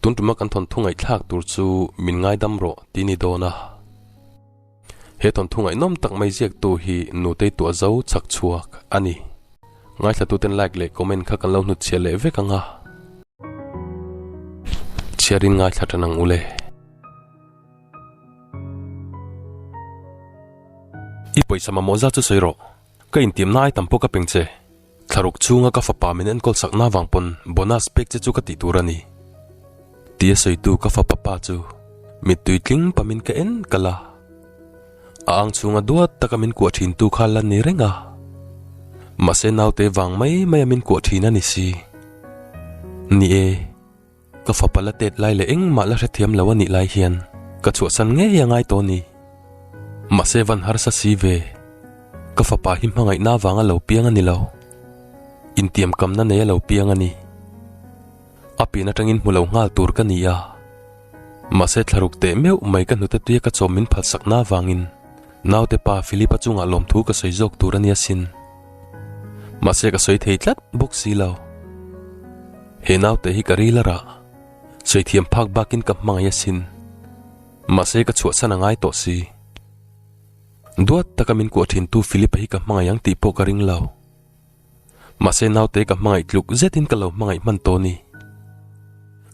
Tun ṭuma kan thawnthu ngaihthlak tur chu min ngaidam rawh tih ni dawn a. He thawnthu ngaihnawm tak mai ziaktu hi Nutei tuah zo chak chhuak a ni. Ngaithlatuten like leh comment kha kan lo hnut chhiah leh vek ang a. Chhiar in ngaithla ṭan ang ule. I pawisa mamawh zat chu sawi rawh. Ka intimna ai tam pawh ka peng che. Thlaruk chhunga ka fapa min enkawl sakna avang pawn bonus pek che chu ka tih tur a ni. Ti a sawitu ka fapa pa chu mittui tling pamin ka en kal a. A ang chhunga duat taka min kuah thintu kha la ni reng a. Mahse naute vang mai maia min kuah thin a ni si. Ni e. Ka fapa la tet lai leh engmah la hrethiam lo anih lai hian ka chhuahsan ngei angai tawh ni. Mahse van harsa si ve, ka fapa hi hmangaihna avanga lo piang ani lo. Intiam kamna nei alo piang ani. A pian atangin hmu lo nghal tur ka ni a. Mahse thlaruk teh meuh mai ka hnute tuia ka chawm min phalsakna avangin naute pa Philip-a chungah lawmthu ka sawi zawk tur ania sin. Mahse ka sawi thei tlat bawk si lo. He naute hi ka ril ara. Saithiam phak bakin ka hmangaih a sin. Mahse ka chhuah chhan a ngai tawh si. Duat taka min kuah thin tu Philipa hi ka hmangaih ang tih pawh ka ring lo. Mahse naute ka hmangaih tluk zetin ka lo hmangaih hman tawh ni.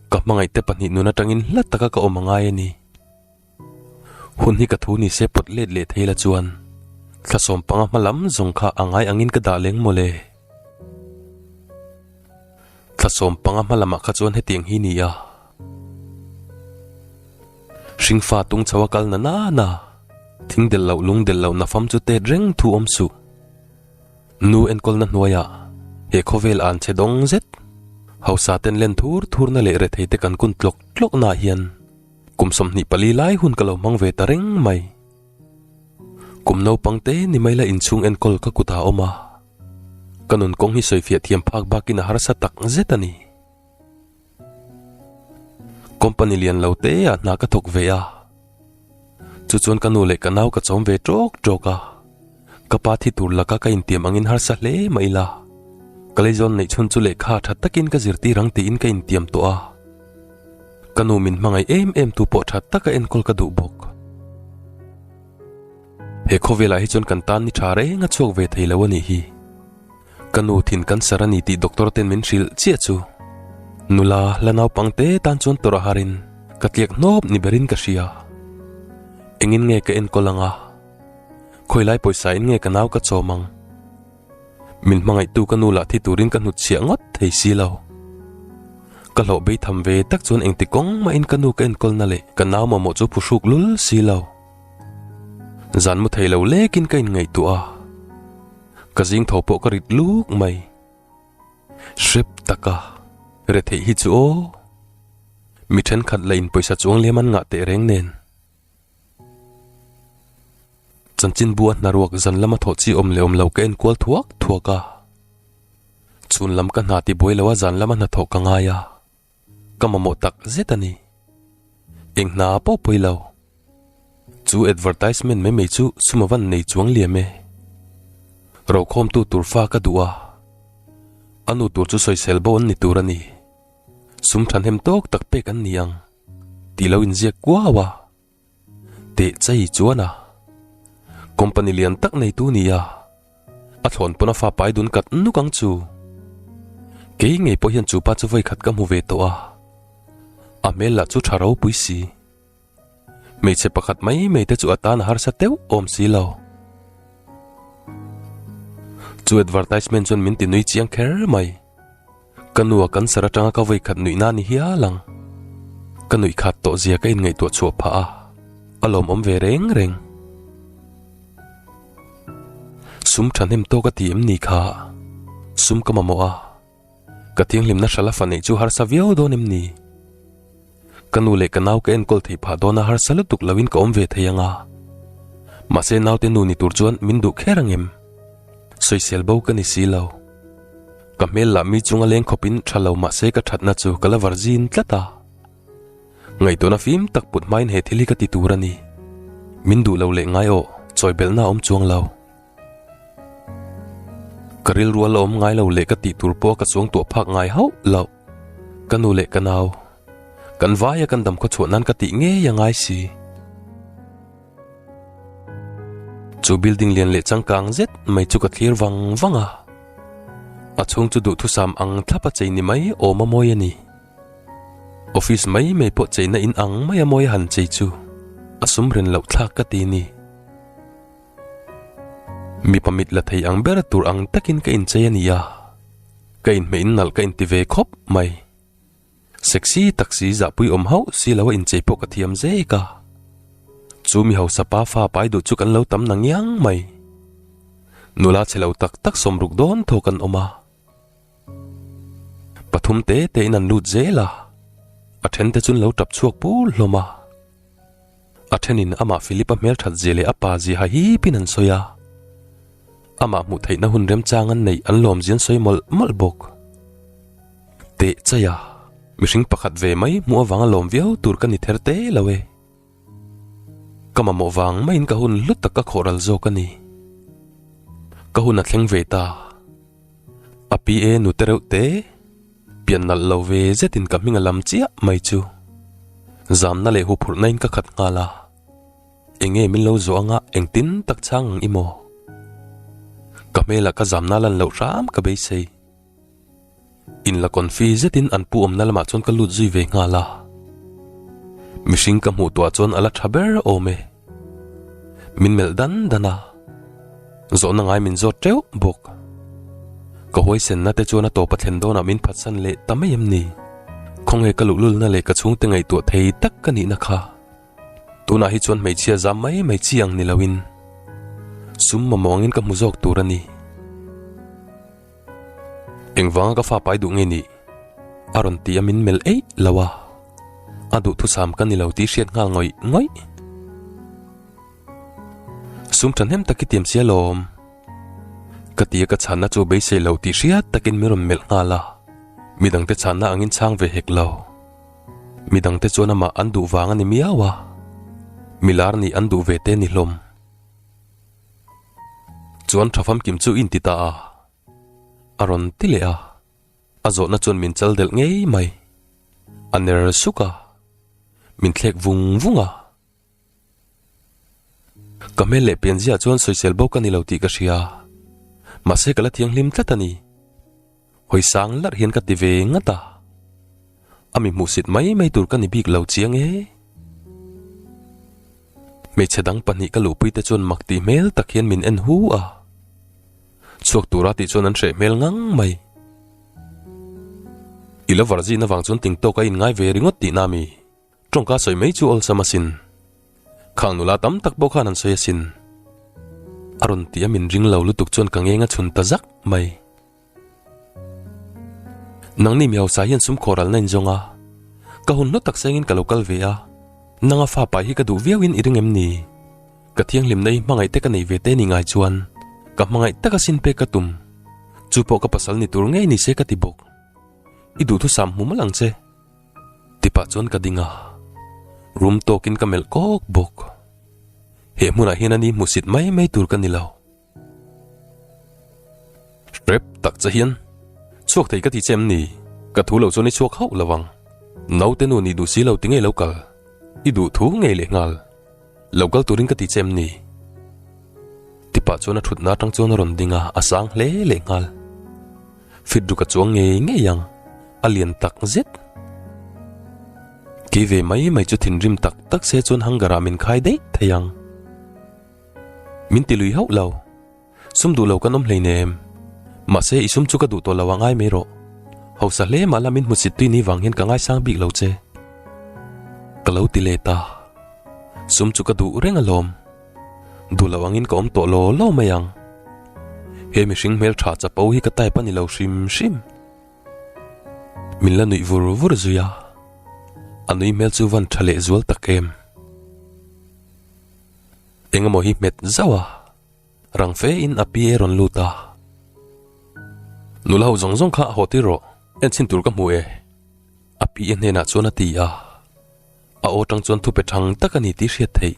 Ka hmangaih te pahnih nun atangin hla taka ka awm a ngai a ni. Hun hi ka thu ni se pawt let leh thei la chuan thlasawm panga hma lam zawng kha a ngai angin ka dah leng maw le. Thlasawm panga hma lamah kha chuan hetiang hi ni a, hringfa tung chho a kal na nana thing del loh lung del loh na fam chu tet reng thu awm suh. Nu enkawlna hnuaiah he khawvel an che dawng zet, hausa ten len thur thurna leh rethei te kan kun tlawk tlawkna ah hian, Kum sawmhnih pali lai hun ka lo hmang ve ta reng mai. Kum naupang te ni mai la inchhung enkawl ka kut ah awm a. Ka nun kawng hi sawifiah thiam phak bak in a harsa tak zet a ni. Company lian lo te ah hna ka thawk ve a. Chu chuan ka nu leh ka nau ka chawm ve trawk trawk a. Ka pa thi tur laka ka intiam angin harsa hle mah ila. Ka leizawn neih chhun chu lehkha a that takin ka zirtir ang tiin ka intiam tawh a. Ka nu min hmangaih em em tu pawh that taka enkawl ka duh bawk. He khawvelah hi chuan kan tan ni tha reng a chhuak ve theilo a nih hi. Ka nu thin cancer a ni tih doctor ten min hrilh chiah chu. Nula la naupang te tan chuan tawrh a harin ka tliak hnawp ni berin ka hria. Engin nge ka enkawl anga? Khawilai pawisa in nge ka nau ka chawm ang? Min hmangaih tu ka nu lah thi turin ka hnut chhiah ngawt thei si lo. Ka hlawh bei tham ve tak chuan engti kawng mah in ka nu ka enkawl na leh ka nau mamawh chu phu hruk lul si lo. Zan mu thei lo lek in ka in ngaihtuah a, ka zing tho pawh ka rit luk mai. Hrep tak a, re theih hi chu aw. Mi thenkhat lah in pawisa chuang liam an ngah tehreng nen. Chanchinbu a hnaruak zan lama thawh chi awm leh awm lo ka enkual thuak thuak a. Chhun lam ka hna ti buai lo a zan lama hnathawh ka ngai a. Ka mamawh tak zet a ni. Eng hna pawh pawih lo. Chu advertisement mai mai chu suma van nei chuang liam e. Rokhawmtu tur fa ka duh a. A nu tur chu sawisel bo an ni tur a ni. Sum thanhem tawk tak pek an ni ang. tih lo inziak kuau a, teh chei chuan a, company lian tak neitu nia a thlawn pawn a fa pai dun kat nuk ang chu, kei ngei pawh hian chupa chu vawikhat ka hmu ve tawh a, a hmel lah chu tha ropui si, hmeichhe pakhat mai mai te chu a tan a harsa teuh awm si lo. Chu advertisement chuan min ti nui chiang kher mai. Ka nu a cancer atanga ka vawi khat nuihna a ni hial ang. Ka nuih khat tawh zia ka in ngaihtuah chhuah phah a, a lawmawm ve reng reng. Sum thahnem tawk a ti em ni kha? Sum ka mamawh a, ka thianghlimna hralh a fa neih chu harsa viau dawn em ni? Ka nu leh ka nau ka enkawl thei phah dawna harsa lutuk loin ka awm ve thei ang a. Mahse naute nu ni tur chuan min duh kher ang em? Sawisel bo ka ni si lo. Ka hmel lah mi chunga leng khawpin tha lo mahse ka thatna chu ka la var zin tlat a. Ngaihtuahna fim tak put hmain he thil hi ka ti tur a ni. Min duh lo leh ngai aw, chawibelhna a awm chuang lo. Ka rilrual a awm ngai lo leh ka tihtur pawh ka chuang tuah phak ngai hauh lo. Ka nu leh ka nau, kan vaia kan dam khaw chhuah nan ka tih ngei a ngai si. Chu building lian leh changkang zet mai chu ka thlir vang vang a. A chhung chu duhthusam ang thlap a chei ni mai awm a mawi a ni. Office mai mai pawh cheina in ang mai a mawi a han chei chu a sum ren loh thlak ka ti ni. Mipa mit la thei ang ber tur ang takin ka inchei a ni a, ka inhmeh in nalh ka inti ve khawp mai. Sexy taxi zahpui awm hauh si lo a inchei pawh ka thiam zek a. Chu mi hausa pa fa pai duh chu kan lo tam na ngiang mai. Nula chhe lo tak tak sawm ruk dawn thawk an awm a. Pathum te te in an lut zel a, a then te chun lo tap chhuak pul hlawm a. A then in amah Philip a hmelthat zia leh a pa zia ha hip in an sawi a. Amah hmuh theih na hun remchang an neih an lawm zia an sawi mawlh mawlh bawk. Tehchai a, mihring pakhat ve mai hmuh avang a lawm viau tur ka ni ther te lo e. Ka mamawh vang maiin ka hun hlu tak a khawh ral zawk a ni. Ka hun a thleng ve ta. Api e nute reuh te, pian nalh lo ve zetin ka hming a lam chiah mai chu. Zamna leh huphurhna in ka khat nghal a. Enge min lo zawh anga engtin tak chang ang i maw? Ka hmel ah ka zamna lan loh hram ka beisei. In la kawn fi zetin an pu awmna lamah chuan ka lut zui ve nghal a. Mihring ka hmuh tuah chuan a la tha ber awm e. Min melh dan dan a. Zawhna ngai min zawt teuh bawk. Ka huaisenna te chuan a tawpa thlen dawnah min phatsan leh ta mai em ni? Khawnge ka luhlulna leh ka chhungte ngaihtuah thei tak ka nihna kha? Tunah hi chuan hmeichhia zam mai mai chi ang ni loin sum mamawngin ka hmu zawk tur a ni. Engvanga ka fapai duh nge nih? A rawn ti a min melh eih lo a, a duhthusam ka ni lo tih i hriat nghal ngawih ngawih. Sum tha hnem tak i tiam sia lawm, ka ti a ka chhanna chu beisei lo tih hriat takin min rawn melh nghal a, midang te chhanna angin chhang ve hek lo. Midang te chuan amah an duh vang a ni miau a, mi lar nih an duh ve te a ni hlawm. Chuan tha famkim chu inti ta a, a rawn ti leh a, a zawhna chuan min chal delh ngei mai, a ner suk a, min thlek vung vung a. Ka hmel leh pian zia chuan sawisel bawk a ni lo tih ka hria, mahse ka la thianghlim tlat a ni. Hawi sang lar hian ka ti ve ngat a, a mi hmuhsit mai mai tur ka ni bik lo chiang e. Hmeichhe dang pahnih ka luhpui te chuan mak tih hmel tak hian min en hu a, chhuak tura tih chuan an hreh hmel ngang mai. I lo var zin avang chuan ting tawka in ngai ve ringawt tihna a mi. Tawngka sawi mai chu awlsam asin. Khang nula tam tak pawh khan an sawi asin. A rawn tih a min ring lo lutuk chuan ka ngenga chhun ta zak mai. Nangni mi hausa hian sum khawh ralna in zawng a, ka hun hnu taksa engin ka lo kal ve a, nanga fapai hi ka duh viau in i ring em ni? Ka thianghlimna i hmangaih te ka nei ve te ni ngai chuan ka hmangaih taka sin pek ka tum. Chu pawh ka pasal ni tur ngei ni se ka ti bawk. I duhthusam hmum alang che. Tipah chuan ka ding a, rum tawkin ka melh kawk bawk. He hmunah hian ani hmusit mai mai tur ka ni lo. Hrep tak che hian, Chhuak thei ka ti che em ni? Ka thu lo chuan i chhuak hauh lovang. Naute nu nih duh si lo ti ngei lo kal. I duh thu ngei lehnghal. Lo kal turin ka ti che em ni? Tipa chuan a thutna atang chuan a rawn ding a, a sang hle leh nghal. Fidruk a chuang ngei ngei ang, a lian tak zet. Kei ve mai mai chu thinrim tak tak se chuan hanger ah min khai daih theih ang. Min ti lui hauh lo, Sum duh lo kan awm hlei nen em? Mahse, i sum chu ka duh tawh lo ang ai mai rawh. Hausa hle mah lam in hmu sit tui ni vang hian ka ngaisang bik lo che. Ka lo ti let a. Sum chu ka duh reng alawm. Duh lo angin ka awm tawh law law mai ang. He mihring hmeltha chapo hi ka type a ni lo hrim hrim. Min la nuih vur vur zui a. A nui hmel chu van tha leh zual tak em. Engemaw hi hmet zauh a. Rang fe in a pi e rawn lut a. Nula ho zawng zawng kha haw tir rawh. En chhin tur ka hmu e. A pi e hnenah chuan a ti a. A aw tang chuan thupe thang tak a ni tih hriat theih.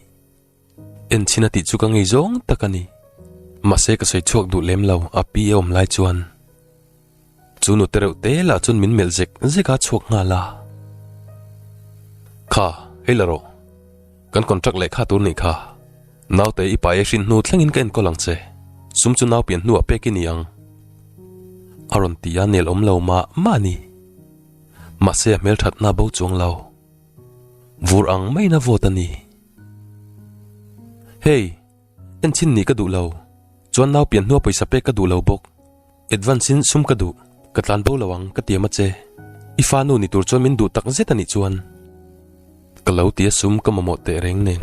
En chhin a tih chu ka ngei zawng tak a ni. Mahse ka sawi chhuak duh lem lo a pi e awm lai chuan. Chu nute reuh te lah chuan min melh zek zek a chhuak nghal a. Kha, hei la rawh. Kan contract lehkha tur nih kha. Naute i paia hrin hnu thlengin ka enkawl ang che. Sum chu nau pian hnuah pek i ni ang. A rawn ti a nel awm lo mah mah ni. Mahse a hmel that hna bo chuang lo. Vur ang mai na vawt a ni. Hei, enchin nih ka duh lo. Chuan nau pian hnua pawisa pek ka duh lo bawk. Advance in sum ka duh ka tlan bo lo ang ka ti a ma che, i fa nu ni tur chuan min duh tak zet a nih chuan ka lo ti a sum ka mamawh teh reng nen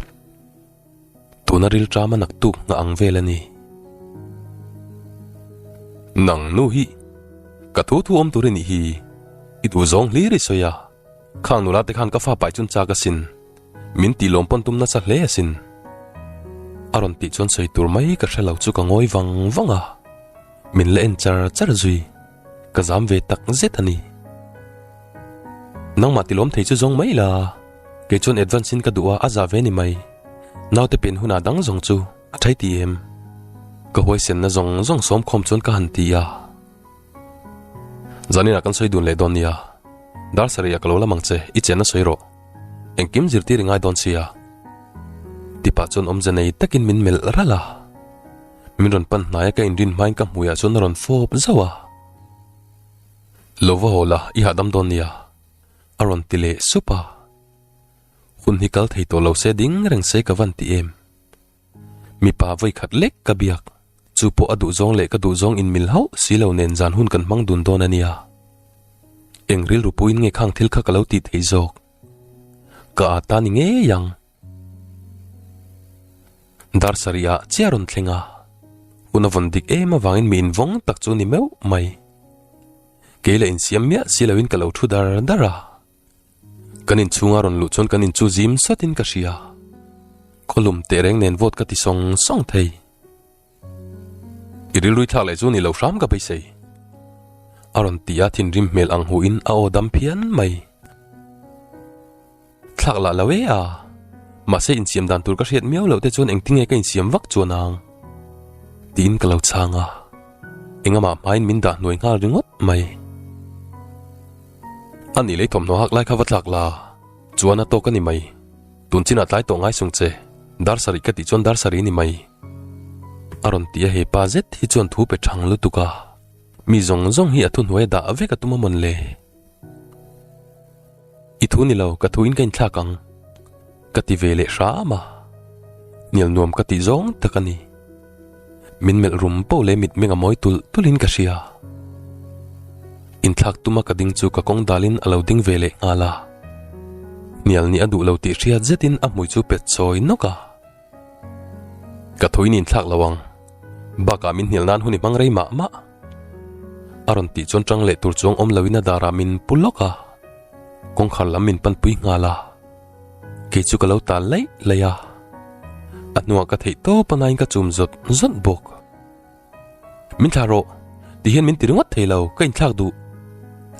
tuna riltram a nak tuk nghah ang vel a ni. Nang nu hi ka thu thu awm tur i nih hi i duh zawng hlir i sawi a. Khang nula te khan ka fa pai chun chak asin, min tih lawm pawn tum nasa hle asin. A rawn tih chuan sawi tur mai ka hre lo chu ka ngawi vang vang a, min la en char char zui, ka zam ve tak zet a ni. Nangmah tilawm thei chu zawng mai la, kei chuan advance in ka duh a, a zah ve ni mai. Naute pen hunah dang zawng chu a tha ti em? Ka huaisenna zawng zawng sawmkhawm chuan ka han ti a. Zanina kan sawi dun leh dawn nia, dar sarih a ka lo la mang che, i chen a sawi rawh, engkim zirtir i ngai dawn sia. Ti pah chuan awmze nei takin min melh ral a, min rawn pan hnaia ka inrin hmain ka hmuiah chuan a rawn fawp zauh a. Lo va haw la, i hahdam dawn nia, a rawn ti leh sup a. Hun hi kal thei tawh lo se ding reng se ka van ti em. Mipa vawikhat lek ka biak. Chu pawh a duhzawng leh ka duhzawng inmil hauh si lo nen zan hun kan hmang dun dawn a nia. Eng rilru puin nge khang thil kha ka lo tih theih zawk? Ka â ta ni ngei ang. Dar sarih ah chiah rawn thleng a, hun a vawn dik em avangin mi invawng tak chu ni meuh mai. Kei la insiam miah si lo in ka lo thu dar dar a. Kan inchhunga rawn luh chuan kan in chu zim satin ka hria. Khawlum teh reng nen vawt ka ti sawng sawng thei. I rilrui thlak leh chu ni lo hram ka beisei. A rawn ti a thinrim hmel ang hu in a aw dam phian mai. Thlak lah lo e a, mahse insiam dan tur ka hriat miau loh te chuan engtinge ka insiam vak chuan ang? Tiin ka lo chhang a, engamah hmain min dah hnuai nghal ringawt mai. A nih lei thawmhnaw hak lai kha va tlak la, chuan a tawk a ni mai. Tun chinah tlai tawh ngai sung che, dar sarih ka tih chuan dar sarih a ni mai. A rawn ti a, he pa zet hi chuan thu pe thang lutuk a, mi zawng zawng hi a thu hnuaia dah vek a tum a mawn le. I thu ni lo, ka thu in ka inthlak ang. ka ti ve leh hram a, nial nuam ka tih zawng tak a ni. Min melh rum paw leh mitmeng a mawi tulh tulhin ka hria. Inthlak tuma ka ding chu ka kawng dalin a lo ding ve leh nghal a. Nial nih a duh lo tih hriat zetin a hmui chu pet chawi nawk a. Ka thaw in inthlak lo ang, bakah min hnial nan hun i hmang rei mah mah. A rawn tih chuan tang leh tur chuang awm loin a darah min pu lawk a, kawngkhar lam min panpui nghal a. Kei chu ka lo tal lei lei a. A hnungah ka theih tawp anain ka chum zawt zawt bawk. Min thlah rawh, tih hian min ti ringawt thei lo, ka inthlak duh.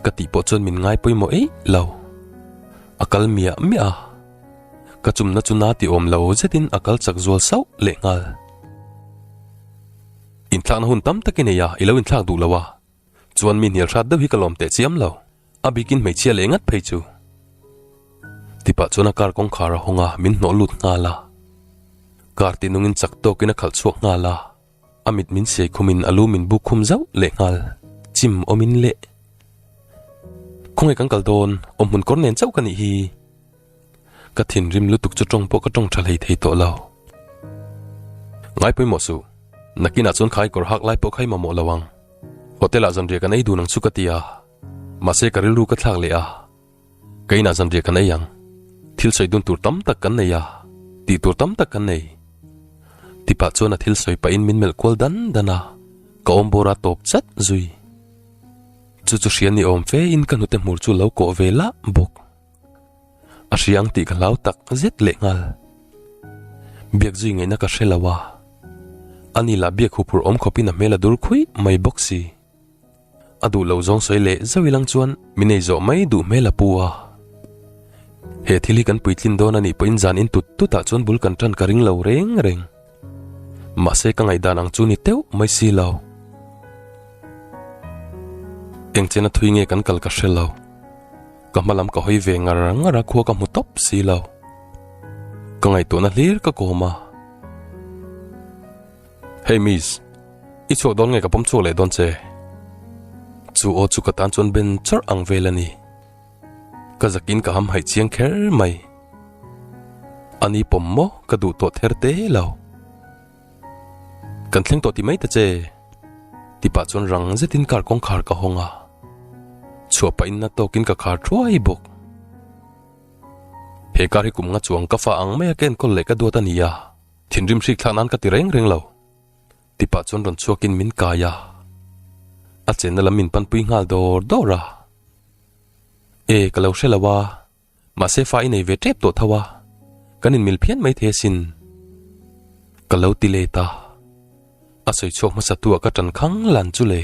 Ka tih pawh chuan min ngai pawimawh eih lo. A kal miah miah a. Ka chumna chu na ti awm lo zetin a kal chak zual sauh leh nghal. Inthlakna hun tam tak i nei a, i lo inthlak duh lo a. Chuan mi hnial hrat deuh hi ka lawm teh chiam lo. A bikin hmeichhia leh ngat phei chu. Ti pah chuan a car kawngkhar a hawng a, min hnawh lut nghal a. Car tih nungin chak tawkin a khalh chhuak nghal a, a mit min siai khum in a lu min buk khum zauh leh nghal. Chim awmin le. Khawnge kan kal dawn? Awm hmun kawr nen chauh ka nih hi. Ka thinrim lutuk chu tawng pawh ka tawng tha hlei thei tawh lo. Ngai pawimawh suh, nakinah chuan khai kawr hak lai pawh khai mamawh lo ang. Hotel-ah zanriah kan ei dun ang chu ka ti a, mahse ka rilru ka thlak leh a. Ka inah zanriah kan ei ang. Thil sawi dun tur tam tak kan nei a, tih tur tam tak kan nei. Tipah chuan a thil sawi pahin min melh kual dan dan a, ka awmbawr a tawp chat zui. Chu chu hriat ni awm fein ka hnute hmur chu lo kawh ve lah bawk. A hriang tih ka hlau tak zet leh nghal. Biak zui ngaihna ka hre lo a. A ni lah biak huphur awm khawpin a hmel a dur khuih mai bawk si. A duh lo zawng sawi leh zauh ilang chuan min ei zawh mai duh hmel a pu a. He thil hi kan puitlin dawn a nih pawhin zan in tut tutah chuan bul kan tan ka ring lo reng reng. Mahse ka ngaihdan ang chu ni teuh mai si lo. Engchen a thui nge kan kal ka hre lo. Ka hmalam ka hawi ve ngar ngar a khua ka hmu top si lo. Ka ngai tu na hlir ka koma. Hey miss, i chuak don nge ka pom chuak leh don che. Chu o chu ka tan chuan ben char ang vel ani. Ka zakin ka hamhaih chiang kher mai. Ani pawm maw ka duh tawh ther te lo. Kan thleng tawh ti mai ta che. Tipah chuan rang zetin car kawngkhar ka hawng a. Chhuah pah inna tawkin ka khar thuai bawk. He car hi kum nga chuang ka fah ang mai a ka enkawl leh ka duat a nia. Thinrim hrik thlak nan ka ti reng reng lo. Ti pah chuan rawn chhuakin min kai a, a chenna lam min panpui nghal dawr dawr a, E, ka lo hre lo a, mahse fa i nei ve tep tawh tho a, kan inmil phian mai the sin, ka lo ti let a, a sawi chhuak hmasa tu ah ka tan khang lan chu le.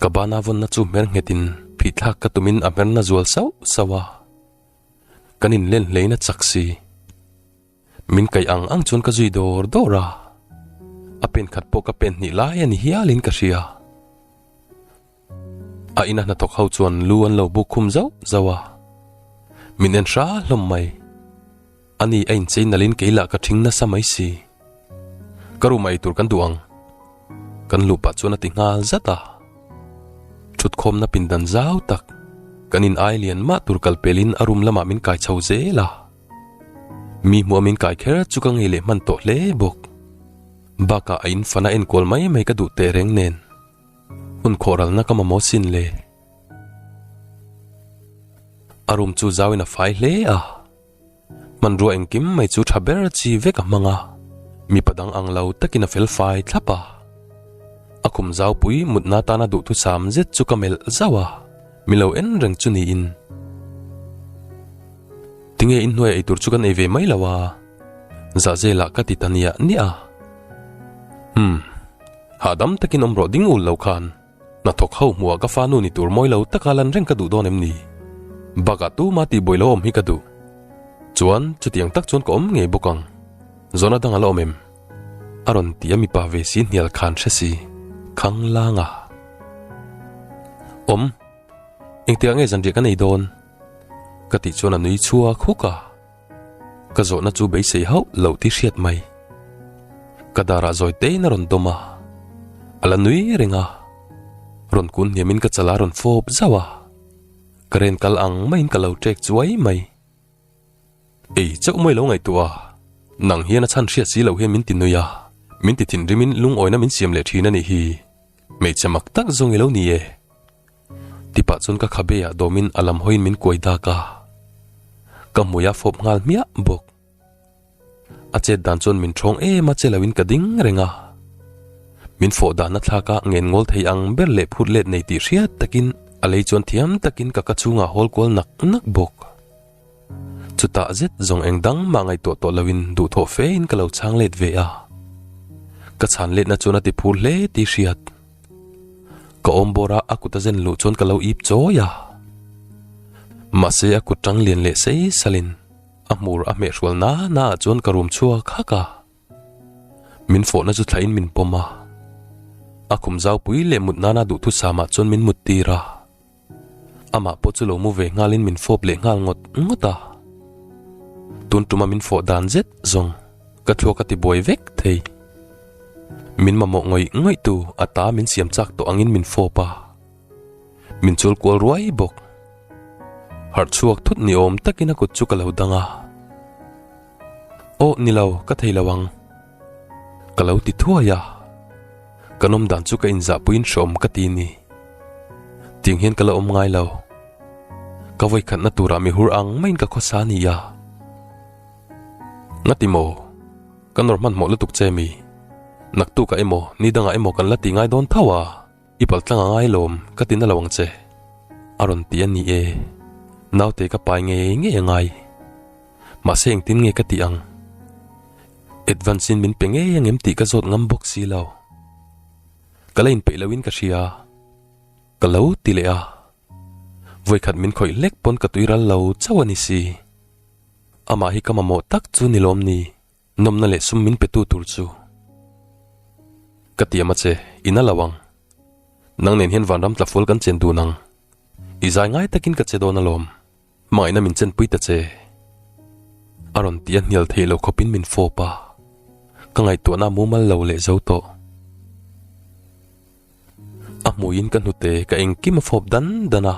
Ka bana vawnna chu hmer nghet in phih thlak ka tumin a hmerna zual sauh sauh a, kan inlen hleina chak si. Min kaih ang ang chuan ka zui dawr dawr a, a pen khat pawh ka pen hnih lai a ni hial in ka hria. A ina hnathawk ho chuan lu an lo buk khum zauh zauh a, min en hra hlawm mai. A ni a inchei nal in kei lah ka thing nasa mai si. Ka room ah eitur kan duh ang. Kan luh pah chuan a ti nghal zat a. Thutkhawmna pindan zau tak. Kan in ai lian mah tur kal pel in a room lamah min kai chho zel a. Mi hmuh a min kai kher chu ka ngei leh hman tawh hle bawk. Baka a in fan a en kual mai mai ka duh teh reng nen. Hun khawh ral na ka mamawh sin le. A room chu zau in a fai hle a. Hmanrua eng kim mai chu tha ber chi vek a hmang a. Mi pa dang ang lo tak in a fel fai thlap a. A khum zau pui mut na tan a duh thu sam zet chu ka melh zauh a. Mi lo en reng chu niin. Tinge inhnuaia eitur chu kan ei ve mai lo a. Zahzela ka ti ta nia nia. Umm. Hahdam takin awm rawh ding ul lo khan. Hnathawk ho hmuhah ka fanu ni tur mawi lo taka lan reng ka duh dawn em ni? Bakah tuma tihbawi lo awm hi ka duh. Chuan chutiang tak chuan ka awm ngei bawk ang. Zawn a dang a la awm em? A rawn ti a mipa ve si hnial khan hre si khang lang a awm engtiah nge zanriah ka nei dawn ka tih chuan a nui chua khuk a ka zawhna chu beisei hauh lo ti hriat mai ka darah zawi tein a rawn dawm a a la nui reng a rawn kun hniamin ka chala rawn fawp zauh a ka ren kal ang maiin ka lo ṭek chuai mai Ei chauh mawi lo ngaihtuah a, nang hian a chhan hriat si lo hian min ti nuih a, min ti thinrimin lungawina min siam leh thin a nih hi. Hmeichhe mak tak zawng i lo ni e. Tipah chuan ka khabe ah dawmin a lam hawiin min kuai dak a, ka hmuih a fawp nghal hmiah bawk. A chet dan chuan min thawng em a che lo in ka ding reng a. Min fawh dan a thlak a ngen ngawl thei ang ber leh phut let nei tih hriat tak in a lei chuan thiam tak in ka ka chhungah hawl kual nak nak bawk. Chutah zet zawng eng dang mah ngaih tawh tawh lo in duhthawh fe in ka lo chhang let ve a. Ka chhan let na chuan a ti phur hle tih hriat. Ka awm bawr a a kut a zen luh chuan ka lo ip chawi a. Mahse a kut tang lian leh sei sal in. A hmur a hmeh hrual nana ah chuan ka rum chhuak hak a, min fawhna chu thlaihin min pawm a, a khum zau pui leh mut nana duhthut sam ah chuan min mut tir a, amah pawh chu lo mu ve nghalin min fawp leh nghal ngawt ngawt a, tun tuma min fawh dan zet zawng ka thluak a ti buai vek thei. Min mamawh ngawih ngawih tu ata min siam chak tawh angin min fawp a. Min chul kual ruai bawk. Harh chhuak thut ni awm takin a kut chu ka lo dang a. Aw ni lo, ka thei lo ang. Ka lo ti thuai a. Kan awm dan chu ka inzah puiin hrawm ka ti ni. Tiang hian ka lo awm ngai lo. Ka vawikhatna tura mi hur ang maiin ka khawsa a nia. Ngati maw? Ka nawr hman hmawh lutuk che mi? Naktuk ah emaw, ni dangah emaw kan la ti ngai dawn tho a. I paltlang a ngai lawm ka ti na lo ang che a rawn ti a ni e, naute ka pai ngei ngei a ngai. Mahse engtin nge ka tih ang? Advance in min pe ngei ang em tih ka zawt ngam bawk si lo. Ka la inpeih lo in ka hria, ka lo ti leh a. Vawikhat min khawih hlek pawn ka tuiral lo chauh a ni si. Amah hi ka mamawh tak chu ni lawm ni? Nawmna leh sum min petu tur chu ka ti ama che, in a lo ang. Nang nen hian vanram tlafual kan chen dun ang. I zai ngai takin ka che dawn alawm. Hmangaihna min chenpui ta che. A rawn ti a hnial theih lo khawpin min fawp a. Ka ngaihtuahna a mumal lo leh zo tawh. A hmuiin ka hnute ka engkim a fawp dan dan a.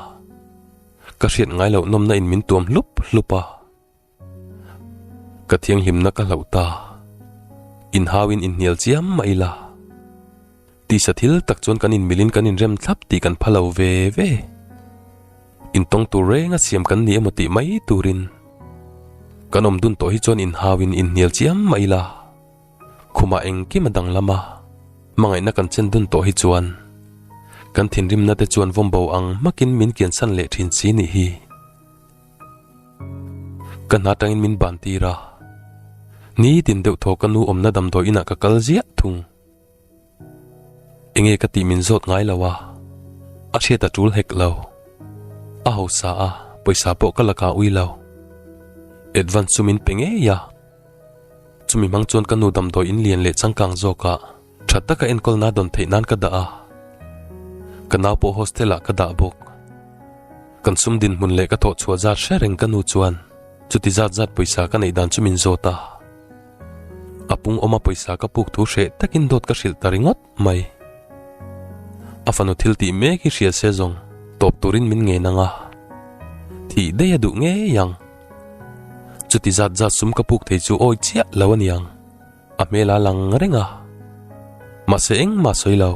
Ka hriat ngai loh nawmna in min tuam hlup hlup a. Ka thianghlimna ka hlauh ta, inhau in inhnial chiam mah ila. Tisa thil tak chuan kan inmil in kan inrem thlap tih kan pha lo ve ve. Intawng tur renga siam kan ni emaw tih mai turin kan awm dun tawh hi chuan inhau in inhnial chiam mah ila. Khumah engkim a dang lama hmangaihna kan chen dun tawh hi chuan kan thinrimna te chuan vawmbo ang hmakin min kiansan leh thin si nih hi. Ka hna tangin min ban tir a, nitin deuh thaw ka nu awmna damdawi inah ka kal ziah thung. Enge ka tih min zawt ngai lo a, a hriat a tul hek lo. A hausa a, pawisa pawh ka la kah ui lo. Advance chu min pe ngei a. Chumi hmang chuan ka nu damdawi in lian leh changkang zawkah, Tha taka enkawl na dawn theih nan ka dah a, ka nau pawh hostel ah ka dah bawk. Kan sum dinhmun leh ka thawh chhuah zat hre reng ka nu chuan chuti zat zat pawisa ka neih dan chu min zawt a. A pung awma pawisa ka puk thu hreh takin dawt ka hrilh ta ringawt mai. A fanu thil tih mek hi hria se zawng tawp turin min ngen ang a, thih daih a duh ngei ang. Chuti zat zat sum ka puk thei chu awi chiah lo a ni ang. a hmel a lang reng a, mahse engmah sawi lo.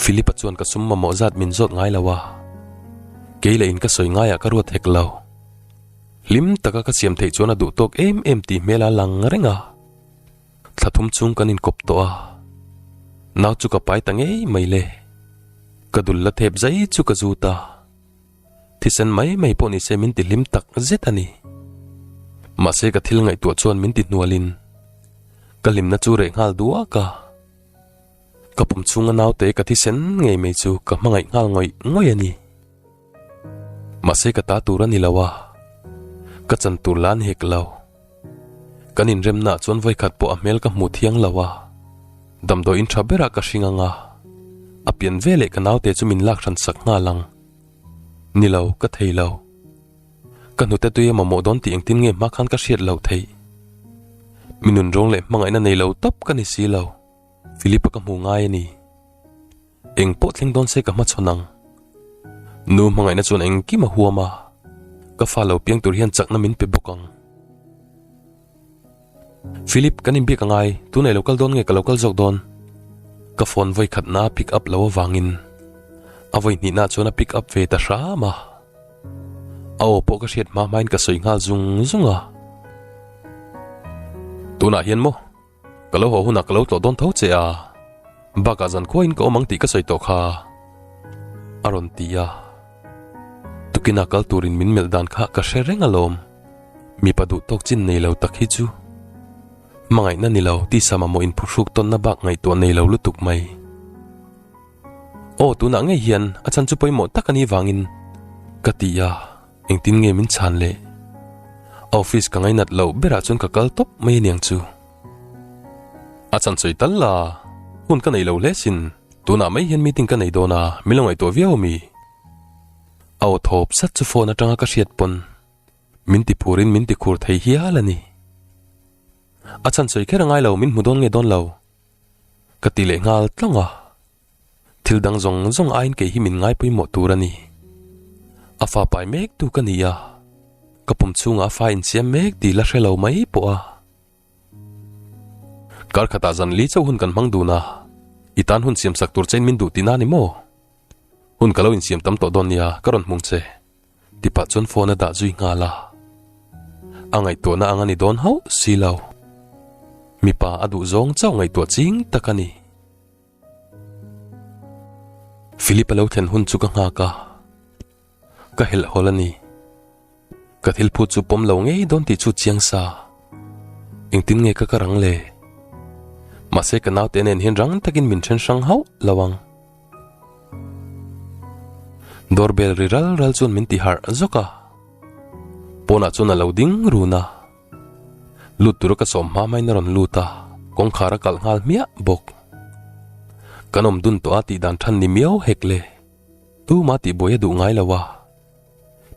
Philip-a chuan ka sum mamawh zat min zawt ngai lo a, kei la in ka sawi ngaiah ka ruat hek lo. Hlim taka ka siam theih chuan a duh tawk em em tih hmel a lang reng a, thla thum chhung kan in kawp tawh a, nau chu ka pai ta ngei mai le, ka dul la thep zai chu ka zut a. Thisen mai mai pawh nise min tihlim tak zet a ni. Mahse ka thil ngaihtuah chuan min tihnualin ka hlimna chu reh nghal duak a. Ka pum chunga naute ka thisen ngei mai chu ka hmangaih nghal ngawih ngawih a ni. Mahse ka ta tur a ni lo a, ka chan tur la a ni hek lo. Kan inremnaah chuan vawikhat pawh a hmel ka hmu thiang lo a, damdawiin tha berah ka hring anga a pian veleh ka naute chu min lak hransak nghal ang. Ni lo, ka thei lo. Ka hnute tui a mamawh dawn tih engtin nge hma khan ka hriat lo thei. Minun rawng leh hmangaihna nei lo tawp ka ni si lo. Philip-a ka hmu ngai a ni. Eng pawh thleng dawn se ka hmachhawn ang. Nu hmangaihna chuan engkim a huam a, ka fa lo piang tur hian chakna min pe bawk ang. Philip, kan inbik a ngai, tunei lo kal dawn nge ka lo kal zawk dawn? Ka phone vawi khatna pick up lo avangin a vawi hnihna chuan a pick up ve ta hram a, a aw pawh ka hriat hma hmain ka sawi nghal zung zung a. Tunah hian maw? Ka lo haw hunah ka lo tlawh dawn tho che a, bak ah zan khuain ka awm ang tih ka sawi tawh kha, a rawn ti a. Tukinah kal turin min melh dan kha ka hre reng alawm. Mipa duhtawk chin nei lo tak hi chu hmangaihna ni lo tisa mamawh in phuhruk tawnna bak ngaihtuah nei lo lutuk mai. Aw tunah ngei hian a chhan chu pawimawh tak a nih vangin ka ti a, engtin nge min chhan le? Office ka ngainat loh berah chuan ka kal tawp mai a niang chu. A chhan sawi tal la, hun ka nei lo hle sin, tunah mai hian meeting ka nei dawn a, min lo ngaihtuah viau a mi. Aw thawp sat chu phone atanga ka hriat pawn min ti phur in min ti khur thei hial a ni. A chhan sawi kher a ngai lo min hmu dawn nge dawn lo ka ti leh nghal tlang a. Thil dang zawng zawng aiin kei hi min ngai pawimawh tur a ni. A fa pai mek tu ka ni a, ka pum chhungah a fa insiam mek dil a hre lo mai pawh a. Karkhatah zan li chauh hun kan hmang dun a, i tan hun siam sak tur che in min duh ti na ni maw? Hun ka lo insiam tam tawh dawn nia ka rawn hmung che. Tipah chuan phone a dah zui nghal a. A ngaihtuahna ang a ni dawn hauh si lo. Mipa a duh zawng chauh ngaihtuah ching tak a ni. Philip a lo thlen hun chu ka nghak a, Ka helh hawl a ni. Ka thil phut chu pawm lo ngei dawn tih chu chiang sa. Engtin nge ka ka rang le? Mahse ka naute nen hian rang takin min then hrang hauh lo ang. Door bell ri ral ral chuan min ti harh zawk a. Pawnah chuan a lo ding run a. Lut tura ka sawm hma main a rawn lut a, kawngkhar a kalh nghal hmiah bawk. Kan awm dun tawh a tih dan than ni miau hek le. Tu mah tihbuai a duh ngai lo a,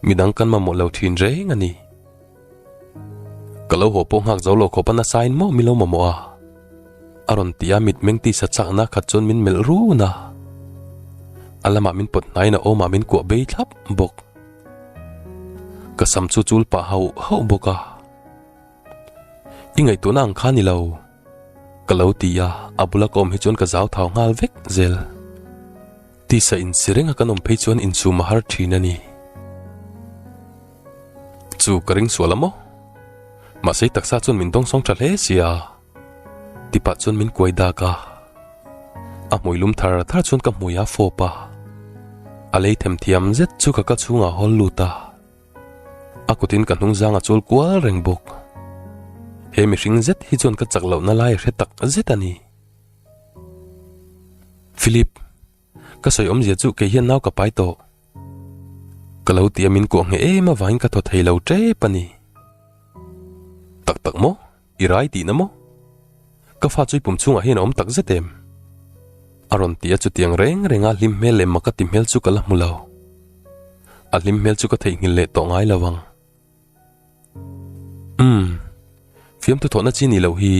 midang kan mamawh lo thin reng a ni. Ka lo haw pawh nghak zo lo khawp a nasa in maw min lo mamawh a? A rawn ti a, mitmeng tisa chak na khat chuan min melh run a. A lamah min pawt hnain a awmah min kuah bei thlap bawk. Ka sam chu chul pah hauh hauh bawk a. I ngaihtuahna ang kha a ni lo. Ka lo ti a, a bula ka awm hi chuan ka zau thau nghal vek zel. Tisa in si renga kan awm phei chuan insum a har thin a ni. Chu ka ring sual a maw? Mahse i taksa chuan min dawngsawng tha hle si a. Tipa chuan min kuai dak a. A hmuilum thar thar chuan ka hmui a fawp a. A lei themthiam zet chu ka kal chhungah hawl lut a. A kutin ka hnung zang a chul kual reng bawk. He mihring zet hi chuan ka chak lohna lai hre tak zet a ni. Philip, ka sawi awmzia chu kei hian nau ka pai tawh. Ka lo ti a min kuah ngei em avangin ka thaw thei lo tep a ni. Tak tak maw? I rai tihna maw? Ka fa chu i pum chhungah hian a awm tak zet em? A rawn ti a chutiang reng renga hlim hmel leh maka ti hmel chu ka la hmu lo. A hlim hmel chu ka theihnghilh leh tawh ngai lo vang. Umm, fiamthu thawhna chi ni loh hi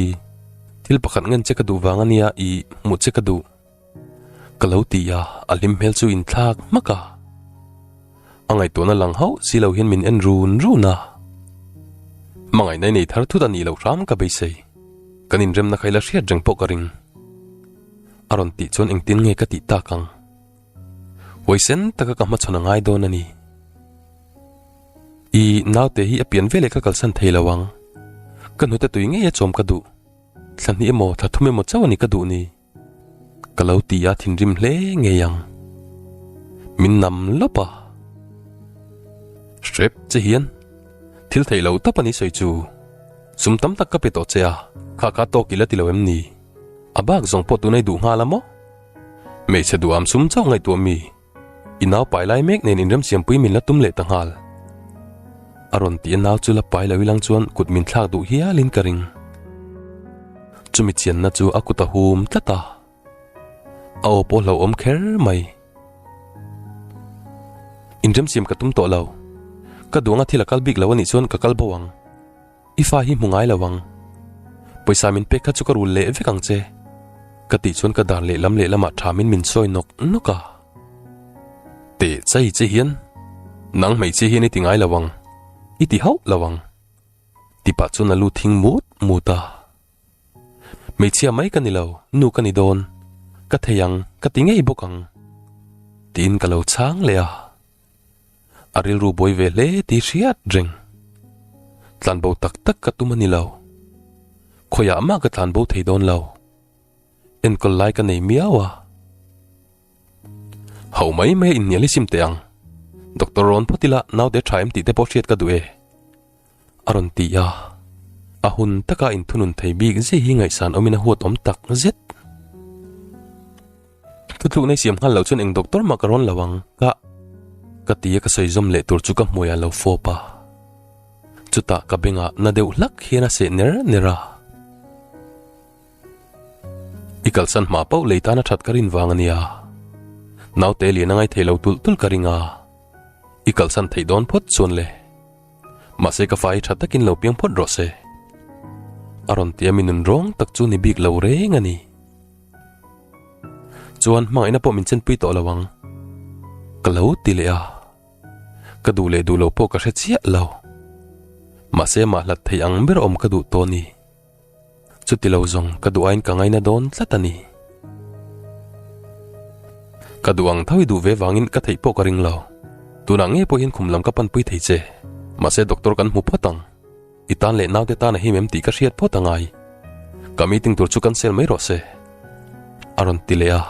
thil pakhat ngen che ka duh vang a nia i hmuh che ka duh. Ka lo ti a, a hlim hmel chu in thlak hmak a. A ngaihtuahna lang hauh si lo hian min en run run a. Hmangaihna i nei thar thut a nih loh hram ka beisei. Kan inremna kha i la hriat reng pawh ka ring. A rawn tih chuan engtin nge ka tih tak ang? Hawi sen taka ka hmachhawn a ngai dawn a ni. I naute hi a pian veleh ka kalsan thei lo ang. Ka hnute tui ngei a chawm ka duh. Thla hnih emaw, thla thum emaw chauh a ni ka duh ni. Ka lo ti a thinrim hle ngei ang. Min nam lawp a. Hrep che hian thil theih lo tap a ni sawi chu. Sum tam tak ka pe tawh che a. Kha kha tawk ila ti lo em ni? A bak zawng pawh tunai duh nghal a maw? Hmeichhe duh âwm sum chauh ngaihtuah mi. I nau pai lai mek nen in remsiampui min la tum leh ta nghal. A rawn tih a nau chu la pai lo i lang chuan kut min thlak duh hial in ka ring. Chumi chianna chu a kut a hum tlat a. A aw pawh hlauhawm kher mai. Inremsiam ka tum tawh lo. Ka duang a thil a kal bik lo a nih chuan ka kal bo ang. I fa hi hmu ngai lo ang. Pawisa min pek kha chu ka rul leh vek ang che. Ka tih chuan ka dan lehlam lehlamah tham in min sawi nawk nawk a. Tehchai che hian, Nang hmeichhia hian i ti ngai lo ang. I ti hauh lo ang. Ti pah chuan a lu thing mut mut a. Hmeichhia mai ka ni lo, nu ka ni dawn. Ka thei ang, ka ti ngei bawk ang. Tiin ka lo chhang leh a. a rilru buai ve hle ti hriat reng. Tlanbo tak tak ka tum a ni lo. Khawiah mah ka tlanbo thei dawn lo. Enkawl lai ka nei miau a. Hau mai mai a inhnial i sim teh ang. Doctor rawn phawt ila naute tha em tih te pawh hriat ka duh e. a rawn ti a. A hun taka inthunun thei bik zia hi ngaihsan awmin a huat awm tak zet. Thuthlukna i siam nghal loh chuan eng doctor mah ka rawn lo ang kah ka ti a ka sawizawm leh tur chu ka hmuaiah lo fawp a. Chutah ka bengah na deuh hlak hian a seh ner ner a. I kalsan hma poh lei tana that ka rin vang a nia. Naute liana ngai thei lo tulh tulh ka ring a. I kalsan theih dawn phawt chuan le. Mahse ka fa hi tha takin lo piang phawt rawh se. A rawn tia min nun rawng tak chu ni bik lo reng a ni. Chuan hmangaihna pawh min chenpui tawh lo ang. Ka lo ti leh a. Ka duh leh duh lo pawh ka hre chiah lo. Mahse mah hlat thei ang ber awm ka duh tawh a ni. Chutilo zawng ka duh aiin ka ngaina dawn tlat a ni. Ka duh ang tho i duh ve vangin ka theih pawh ka ring lo. Tunah nge pawh hian khum lam ka panpui thei che. Mahse doctor kan hmu phawt ang. I tan leh naute tan a him em tih ka hriat phawt a ngai. Ka meeting tur chu cancel mai rawh se. A rawn ti leh a.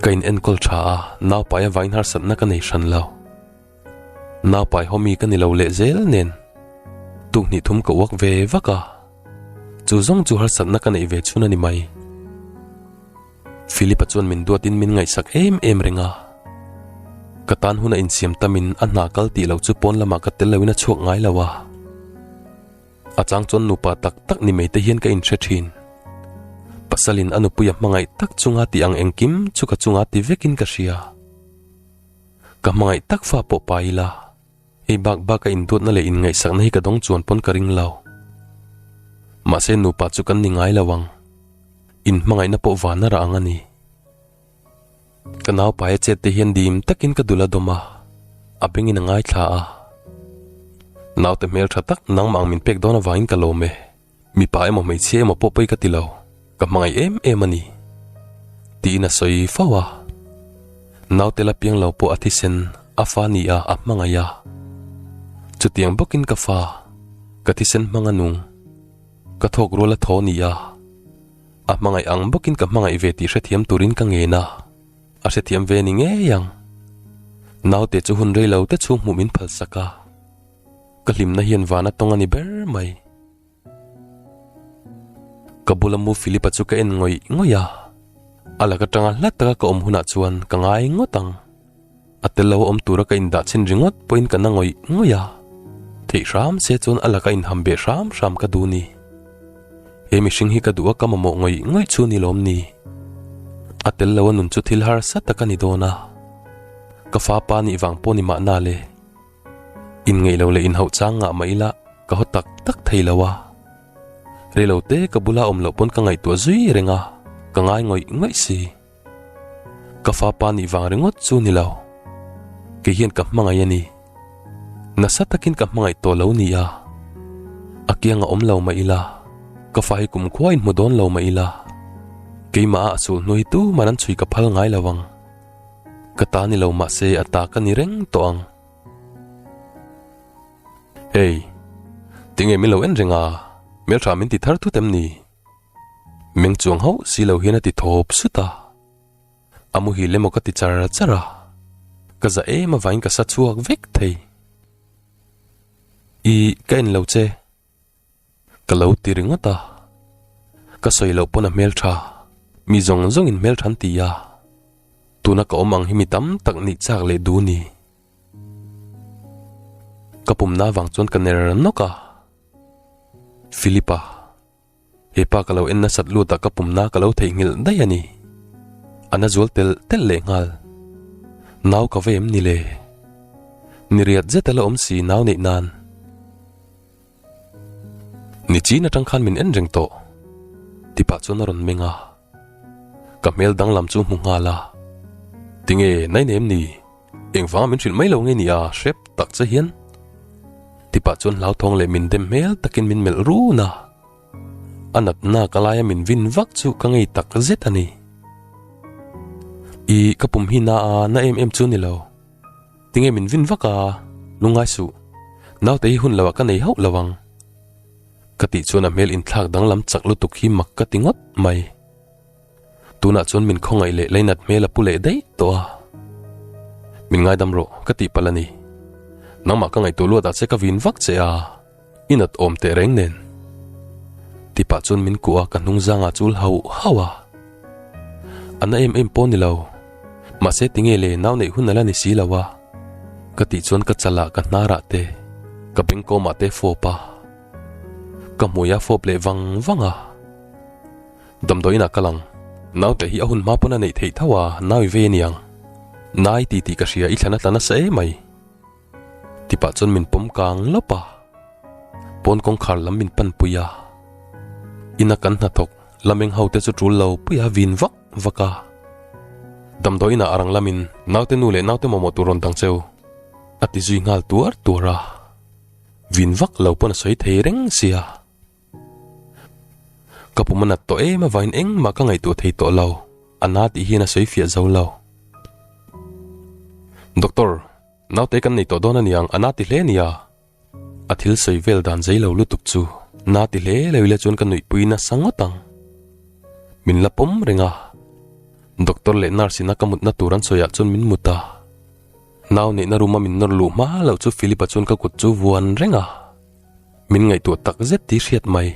Ka in enkawl tha a, naupai a vainharsatna ka nei hran lo. Naupai hawmi ka ni lo leh zel nen tuhnih thum ka uak ve vak a, chu zawng chu harsatna ka neih ve chhun a ni mai. Philip-a chuan min duat in min ngaihsak em em reng a. Ka tan huna insiam tam in a hna kal tih lo chu pawn lamah ka tel lo in a chhuak ngai lo a. A chang chuan nupa tak tak ni mai te hian ka in hre thin. Pasal in a nupui a hmangaih tak chunga tih ang engkim chu ka chungah ti vek in ka hria. Ka hmangaih tak fa pawh pa ila, hei bak baka induatna leh inngaihsakna hi ka dawng chuan pawn ka ring lo. Mahse nupa chu kan ni ngai lo ang, in hmangaihna pawh van a rah ang a ni. Ka naupa e chet te hian dim takin ka dul a dawm a, a bengin a ngaithla a. Naute hmel tha tak, nangmah ang min pek dawn avangin ka lawm e. Mipa emaw hmeichhia emaw pawh pei ka ti lo, ka hmangaih em em a ni. Tiin a sawi fo a. Naute Lapiang lo pawh a thisen a fa nia a hmangaih a. Chutiang bawkin ka fa, ka thisen hmang a nung. Ka thawk rual a thaw nia. A hmangaih ang bawkin ka hmangaih ve tih hrethiam turin ka ngen a. A hrethiam ve ni ngei ang. Naute chu hun rei lo te chhung hmuh min phalsak a. Ka hlimna hian vana tawng a ni ber mai. Ka bula mu Philipa chu ka en ngawih ngawih a. A la ka tanga hla taka ka awm hunah chuan ka ngai ngawt ang. A tel lo awm tura ka indah chhin ringawt pawhin ka na ngawih ngawih a. Theih hram se chuan a la ka inham beh hram hram ka duh ni. He mihring hi ka duh a ka mamawh ngawih ngawih chu ni lawm ni. A tel lo a nun chu thil harsa tak a ni dawn a. Ka fapa nih vang pawh ni mahna le. in ngeih lo leh in hauh chang ngah mah ila ka haw tak tak thei lo a rilo te ka bula awm loh pawn ka ngaihtuah zui reng a ka ngai ngawih ngawih si ka fapa nih vang ringawt chu ni lo kei hian ka hmangaih a ni nasa takin ka hmangaih tawh lo ni a a kianga awm lo mah ila ka fa hi kum khua in hmu dawn lo mah ila keimah a sul hnuai tu man an chhui ka phal ngai lo ang Ka ta ni lo mah se a ta ka ni reng tawh ang. Ei, ti nge min lo en reng a, Hmelṭha min ti thar thut em ni? Meng chuang hauh si lo hian a ti thawp sut a. A muhil emaw ka ti char char a, ka za em avain ka sa chhuak vek thei. I, ka en lo che. Ka lo ti ringawt a, ka sawi loh pawn a hmel tha, mi zawng zawng in hmel tha an ti a, tuna ka awm ang hi mi tam tak nih chak leh duh ni? Ka pumna avang chuan ka ner nawk a, Philip a, hepa ka lo en nasat lut ah ka pumna ka lo theih nghilh daih a ni, a na zual tel tel leh nghal, nau ka va em ni le, ni riat zet a la awm si nau neih nan. Ni chin atang khan min en reng tawh. Tipah chuan a rawn meng a. Ka hmel danglam chu hmu nghal a. Tinge nainem ni? Engvanga min hrilh mai lo nge nia hrep tak che hian. Tipah chuan hlauthawng leh min dem hmel takin min melh run a. A natna ka laia min vin vak chu ka ngei tak zet a ni. I ka pum hi na a na em em chu ni lo. Tinge min vin vak a, lungai suh, naute hi hun lohah ka nei hauh lo ang. Ka tih chuan a hmel inthlak danglam chak lutuk hi mak ka ti ngawt mai. Tunah chuan min khawngaih leh Leinat hmel a pu leh daih tawh a. Min ngaidam rawh, ka tih palh a ni. Nangmah ka ngaihtuah luatah che ka vin vak che a. I nat awm teh reng nen. Ti pah chuan min kuh a ka hnung zangah chu hauh hauh a. A na em em pawh ni lo. Mahse ti nge le nau neih hun a la ni si lo a. Ka tih chuan ka chal ah ka hnarah te, ka bengkawm ah te fawp a. Ka hmui a fawp leh vang vang a. Damdawiin ah ka lang. Naute hi a hun hma pawn a neih theih tho a, nau i ve niang. Nai ti tih ka hria i thla na tla nasa emai. Tipah chuan min pawm kang lawp a, pawn kawngkhar lam min pan pui a, ina kan hnathawk Lameng ho te chu tul lo pui a vin vak vak a. Damdawi inah a rang lamin naute nu leh naute mawmawh tur rawn dang che u, a ti zui nghal tuar tuar a, vin vak lo pawn a sawi thei reng sia. Ka pum a nat tawh em avangin engmah ka ngaihtuah thei tawh lo, a na tih hian a sawi fiah zo lo. Doctor, naute kan nei tawh dawn a niang, a na ti hle nia. A thil sawi vel dan zai lo lutuk chu na ti hle lo ila chuan ka nuihpui nasa ngawt ang. Min la pawm reng a, doctor leh nurse ina ka mutna tur an sawiah chuan min mut a. Nau neihna room a min nawr luh hma lo chu Philip-a chuan ka kut chu vuan reng a. min ngaihtuah tak zet tih hriat mai.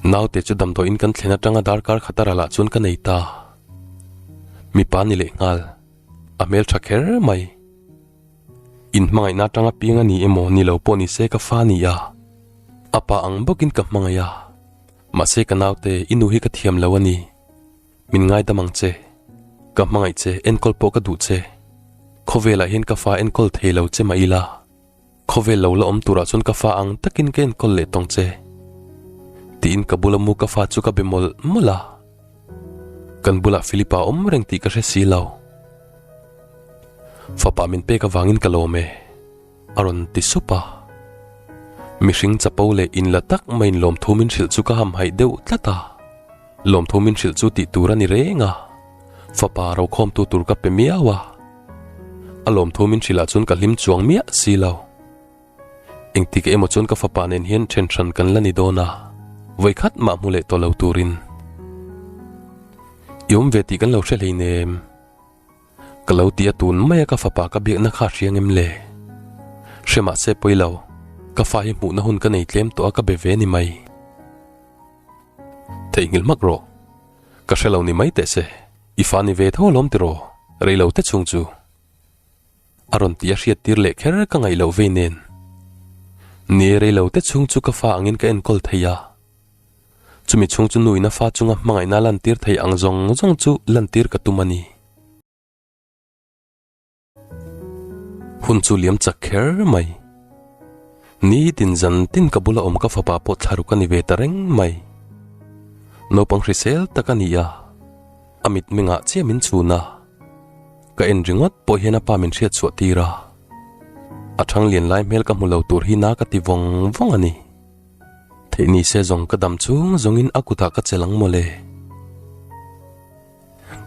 Naute chu damdawiin kan thlen atanga darkar khat a ra lah chuan ka nei ta. Mipa ni leh nghal, a hmel tha kher mai. Inhmangaihna atanga piang a ni emaw ni lo pawh ni se ka fa ni a. A pa ang bawkin ka hmangaih a. Mahse ka naute, i nu hi ka thiam lo a ni. Min ngai dam ang che. Ka hmangaih che, enkawl pawh ka duh che. Khawvel ah hian ka fa enkawl thei lo che mah ila. Khawvel lo la awm tur ah chuan ka fa ang takin ka enkawl leh tawng che. Tiin ka bula mu ka fa chu ka be mawlh mawlh a. Kan bulah Philip a awm reng tih ka hre si lo. Fapa min pek avangin ka lawm e. A rawn ti sup a. Mihring chapo leh in la tak mai in lawm thu min hrilh chu ka ham haih deuh tlat a. Lawmthu min hrilh chu tih tur a ni reng a, fapa rokhawmtu tur ka pe miau a, a lawmthu min hrilh ah chuan ka hlim chuang miah si lo. Engtik emaw chuan ka fapa nen hian then hran kan la ni dawn a, vawi khat mah hmu leh tawh lo turin. I awm ve tih kan lo hre hlein em? Ka lo ti a tun mai a ka fapa ka biakna kha a hriang em le? Hre mah se pawi lo, ka fa hi hmuhna hun ka nei tlem tawh a ka be ve ni mai. Theih nghil mak rawh. Ka hre lo ni mai teh se, i fa ni ve tho alawm tiraw? Reilo te chung chu a rawn ti a hriat tir leh kher ka ngaih loh vei nen. Ni e, reilo te chung chu ka fa angin ka enkawl thei a. Chumi chhung chu nu in a fa chunga hmangaihna a lantir thei ang zawng zawng chu lantir ka tum a ni. Hun chu liam chak kher mai. Nitin zan tin ka bula awm ka fapa pawh thlaruk a ni ve ta reng mai. Naupang hrisel tak a ni a, a mitmeng ngah chiah min chun a. Ka en ringawt pawh hian a pa min hriatsuah tir a. A thang lian lai hmel ka hmu lo tur hi na ka ti vawng vawng a ni. Theih ni se zawng ka dam chung zawngin a kutah ka chelh ang maw le.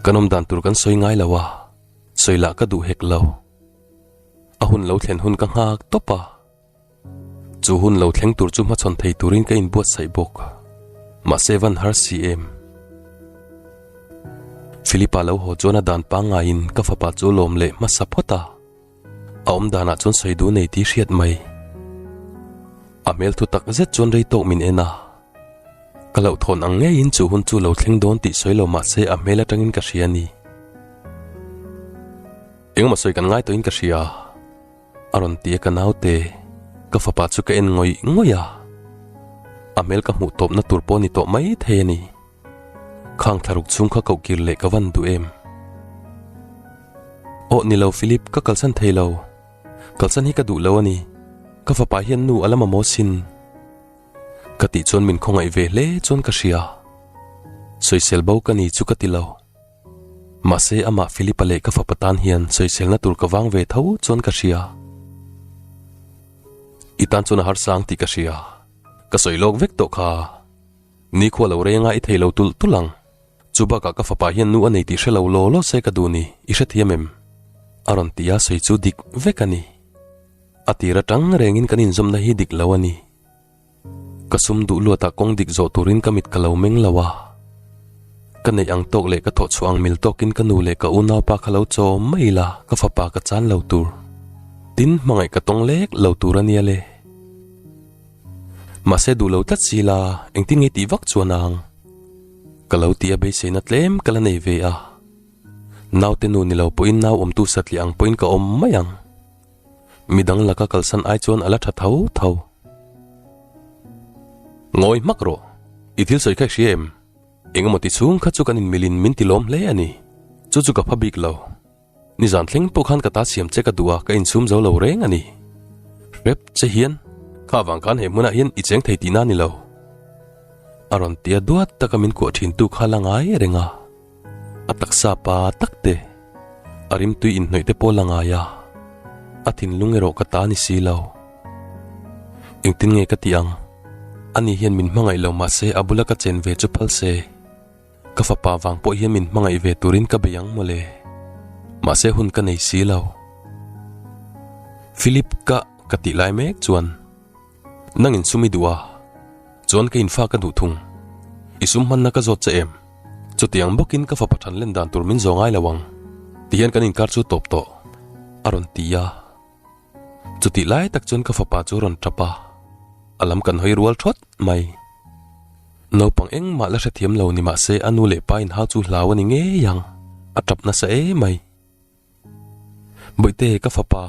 Kan awm dan tur kan sawi ngai lo a. Sawi lah ka duh hek lo. A hun lo thlen hun ka nghak tawp a. Chu hun lo thleng tur chu hmachhawn thei turin ka inbuatsaih bawk. Mahse van har si em? Philipa lo haw chuan a dan pangaiin ka fapa chu lawm leh hmasa phawt a. A awmdanah chuan sawi duh a nei tih hriat mai. A hmel thu tak zet chuan rei tawk min en a. Ka lo thawn ang ngeiin chu hun chu lo thleng dawn tih sawi lo mahse a hmel atangin ka hria ni. Engemaw sawi kan ngai tawhin ka hria. A rawn ti a ka naute, ka fapa chu ka en ngawih ngawih a. A hmel ka hmuh tawpna tur pawh a ni tawh mai thei a ni. Khang thlaruk chhung kha koh kir leh ka van duh em. Aw ni lo Philip, ka kalsan thei lo. Kalsan hi ka duh lo a ni. Ka fapa hian nu a lama maw sin? Ka tih chuan min khawngaih ve hle chuan ka hria. Sawisel bo ka ni chu ka ti lo. Mahse amah Philipa leh ka fapa tan hian sawiselna tur ka vang ve tho chuan ka hria. I tan chuan a harsang tih ka hria. Ka sawi lawk vek tawh kha. Nikhua lo renga i thei lo tulh tulh ang. Chu bakah ka fapa hian nu a nei tih hre lo law law se ka duh ni, i hrethiam em? A rawn ti a sawi chu dik vek a ni. A tir atang reng in kan in zawmna hi dik lo a ni. Ka sum duh luat ah kawng dik zawh tur in ka mit ka lo meng lo a. Ka neih ang tawk leh ka thawh chhuah ang mil tawk in ka nu leh ka unaupa kha lo chawm mai ila ka fapa ka chan lo tur. Tin hmangaih ka tawng lek lo tur a nia le. Mahse duh lo tlat si la engtin ngei tih vak chuan ang. Ka lo ti a beisei na tlem ka la nei ve a. Naute nu ni lo pawh in nauawmtu satliah ang pawh in ka awm mai ang. Mi dang laka kalsan ai chuan a la tha tho tho. Ngawi hmak rawh, i thil sawi kha i hria em? Engemaw ti chhung kha chu kan in milin min ti lawm hle a ni. Chu chu ka pha bik lo. Nizan thleng pawh khan ka ta siam che ka duh a ka insum zo lo reng a ni. Hrep che hian, Kha avang khan he hmunah hian i cheng thei tihna a ni lo. A rawn tia duat taka min kuah thintu kha a la ngai reng a. A taksa pa tak te, a rim tui in hnawih te pawh la ngai a, a thinlung erawh ka ta ni si lo. Engtin nge ka tih ang? Ani hian min hmangaih lo mah se a bula ka chen ve chu phal se. Ka fapa vang pawh hian min hmangaih ve turin ka bei ang mawle. Mahse hun ka nei si lo. Philip kah ka tih lai mek chuan. Nangin sum i duh a, chuan ka infak ka hnuh thung. I sum hmanna ka zawt che em? Chutiang bawkin ka fapa than len dan tur min zawh ngai lo ang ti hian kan inkar chu tawp tawh a rawn ti a. Chutih lai tak chuan ka fapa chu a rawn tap a, a lam kan hawi rual thawt mai. Naupang engmah la hrethiam lo ni mahse a nu leh pa inhau chu hlau a ni ngei ang, a tap nasa emai. Bawihte ka fapa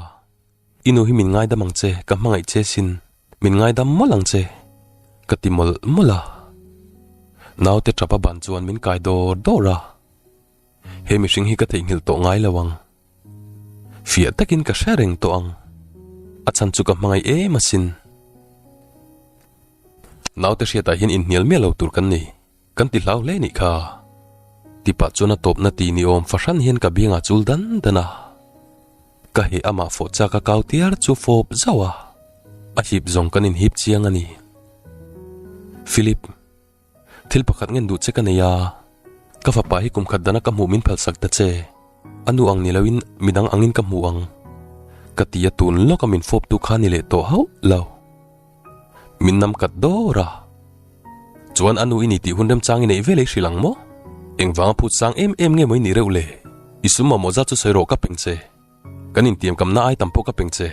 I nu hi min ngaidam ang che, ka hmangaih che sin. Min ngaidam mawlh ang che, ka ti mawlh mawlh a. Naute ṭapa ban chuan min kai dawr dawr a. He mihring hi ka theihnghilh tawh ngai lo ang. Fiah takin ka hre reng tawh ang. A chhan chu ka hmangaih em asin. Naute hriatah hian inhnial miah lo tur kan nei. Kan ti hlau hle nih kha. Ti pah chuan a tawpna tih ni awm fahran hian ka beng ah chul dan dan a. Ka he amah fawh chak a kau tiar chu fawp zauh a, a hip zawng kan in hip chiang a ni. Philip, thil pakhat ngen duh che ka nei a, ka fapa hi kum khat dan a ka hmuh min phalsak ta che, a nu ang ni lo in midang ang in ka hmuh ang. Ka ti a tun lawk a min fawp tu kha ni leh tawh hauh lo. Min nam kat dawr a. Chuan a nu i ni tih hun remchang i neih vel ei hrilh ang maw? Engvang a phut sang em em nge mai nih reuh le? I sum mamawh zat chu sawi rawh ka peng che. Kan intiam kamna ai tam pawh ka peng che.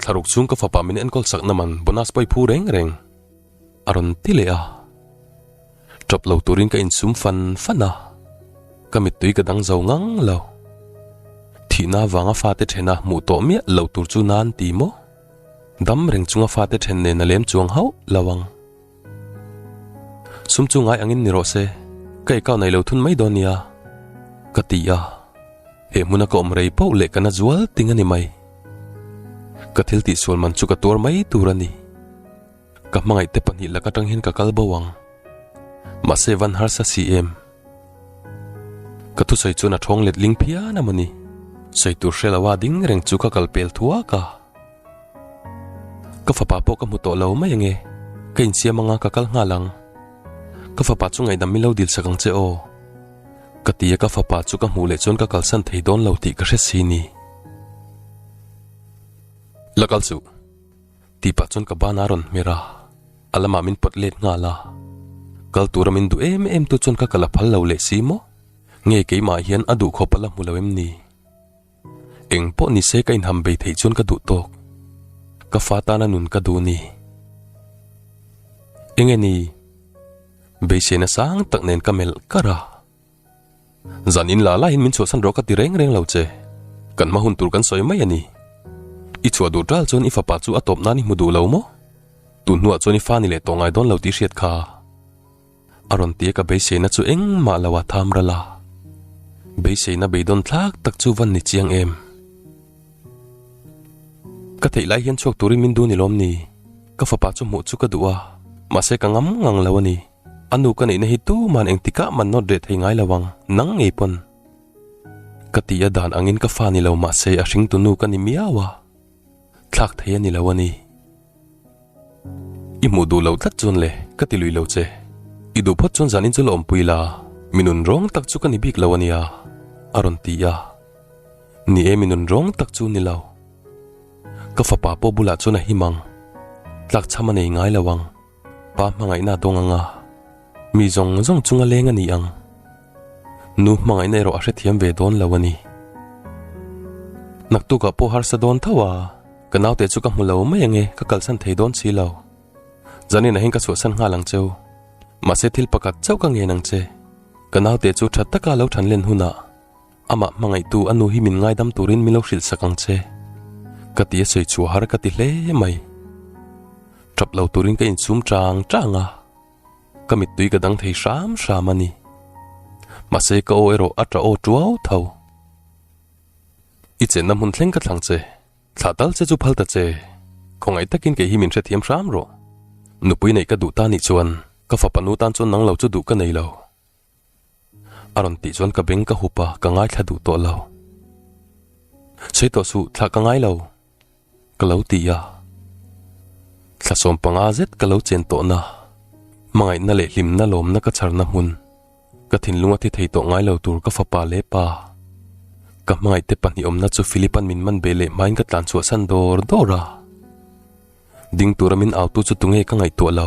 Thlaruk chhung ka fapa min enkawl sak naman bonus pawh i phu reng reng. A rawn ti leh a. Tawp lo turin ka insum fan fan a. Ka mittui ka dang zo ngang lo. Thihna avanga fate thena hmuh tawh miah lo tur chu nan ti maw? Dam reng chunga fate then nen a lem chuang hauh lo ang. Sum chu ngai angin ni rawh se, ka ei kau naih lo thun mai dawn nia, ka ti a. He hmuna ka awm rei poh leh ka na zual ting a ni mai. Ka thil tih sual man chu ka tuar mai tur a ni. Ka hmangaih te pahnih lak atang hian ka kal bo ang. Mahse van harsa si em? Ka thusawi chuan a thawng let ling phian a mawni. Sawi tur hre lo a ding reng chu ka kal pel thuak a. Ka fapa pawh ka hmu tawh lo mai ang e. Ka insiam anga ka kal nghal ang. Ka fapa chu ngaihdam min lo dilsak ang che aw. Ka ti a ka fapa chu ka hmuh leh chuan ka kalsan thei dawn lo tih ka hre si ni. La kal suh. Tih pah chuan ka bana rawn hmer a, a lamah min pawt let nghal a, kal tura min duh em em tu chuan ka kal a phal lo leh si maw? Nge keimah hian a duh khawp a la hmu lo em ni? Eng pawh ni se ka inham bei theih chuan ka duh tawk, ka fa tan a nun ka duh ni. Enge ni? beisena sang tak nen ka melh karh a. Zan in la laiin min chhuahsan rawh ka ti reng reng lo che. Kan hma hun tur kan sawi mai a ni. I chhuah duh tal chuan i fapa chu a tawp nan i hmu duh lo maw? Tun hnuah chuan i fa ni leh tawh ngai dawn lo tih hriat kha a rawn ti a ka beiseina chu engmah lo a tham ral a. Beiseina beidawn thlak tak chu van ni chiang em? Ka theih lai hian chhuak turin min du ni lawm ni? Ka fapa chu hmuh chu ka duh a, mahse ka ngam ngang lo a ni. A nu ka neihna hi tuman engtikah man note reh thei ngai lo ang, nang ngei pawn. Ka ti a dan angin ka fa ni lo mahse a hring tunu ka ni miau a, thlak thei a ni lo a ni. I hmuh duh loh tlat chuan le, ka ti lui lo che. I duh phawt chuan zanin chu la awmpui la, mi nun rawng tak chu ka ni bik lo a nia, a rawn ti a. Ni e, mi nun rawng tak chu ni lo. Ka fapa pawh bulah chuan a him ang, tlakchham a nei ngai lo ang. Pa hmangaihna dawng anga mi zawng zawng chung a leng a ni ang. Nu hmangaihna erawh a hrethiam ve dawn lo a ni. Naktukah pawh harsa dawn tho a, ka naute chu ka hmu lo mai ang e, ka kalsan thei dawn si lo. Zanina hin ka chhuahsan nghal ang cheu. Mahse thil pakhat chauh ka ngen ang che, ka naute chu tha taka lo thanlen hunah, Amah hmangaihtu a nu hi min ngaidam turin min lo hrilhsak ang che. Ka ti a sawi chhuah har ka ti hle mai. Tap lo turin ka insum chang chang a. Ka mittui ka dang thei hram hram a ni. Mahse ka aw erawh a ta aw tuau tho. I chenna hmun thleng ka thlang che. Thlah tal che chu phal ta che. Khawngaih takin kei hi min hrethiam hram rawh. Nupui neih ka duh ta nih chuan ka fapa nu tan chuan nang lo chu duh ka nei lo. A rawn tih chuan ka beng ka hup a, ka ngaithla duh tawh lo. Sawi tawh suh, thlah ka ngai lo, ka lo ti a. Thla sawm panga zet ka lo chen tawhna, hmangaihna leh hlimna lawmna ka chharna hmun, ka thinlung a thi thei tawh ngai lo tur ka fapa leh pa, ka hmangaihte pahnih awmna chu Philip an min man beh leh hmain ka tlan chhuahsan dawr dawr a. Ding tura min autu chu tunge ka ngaihtuah lo?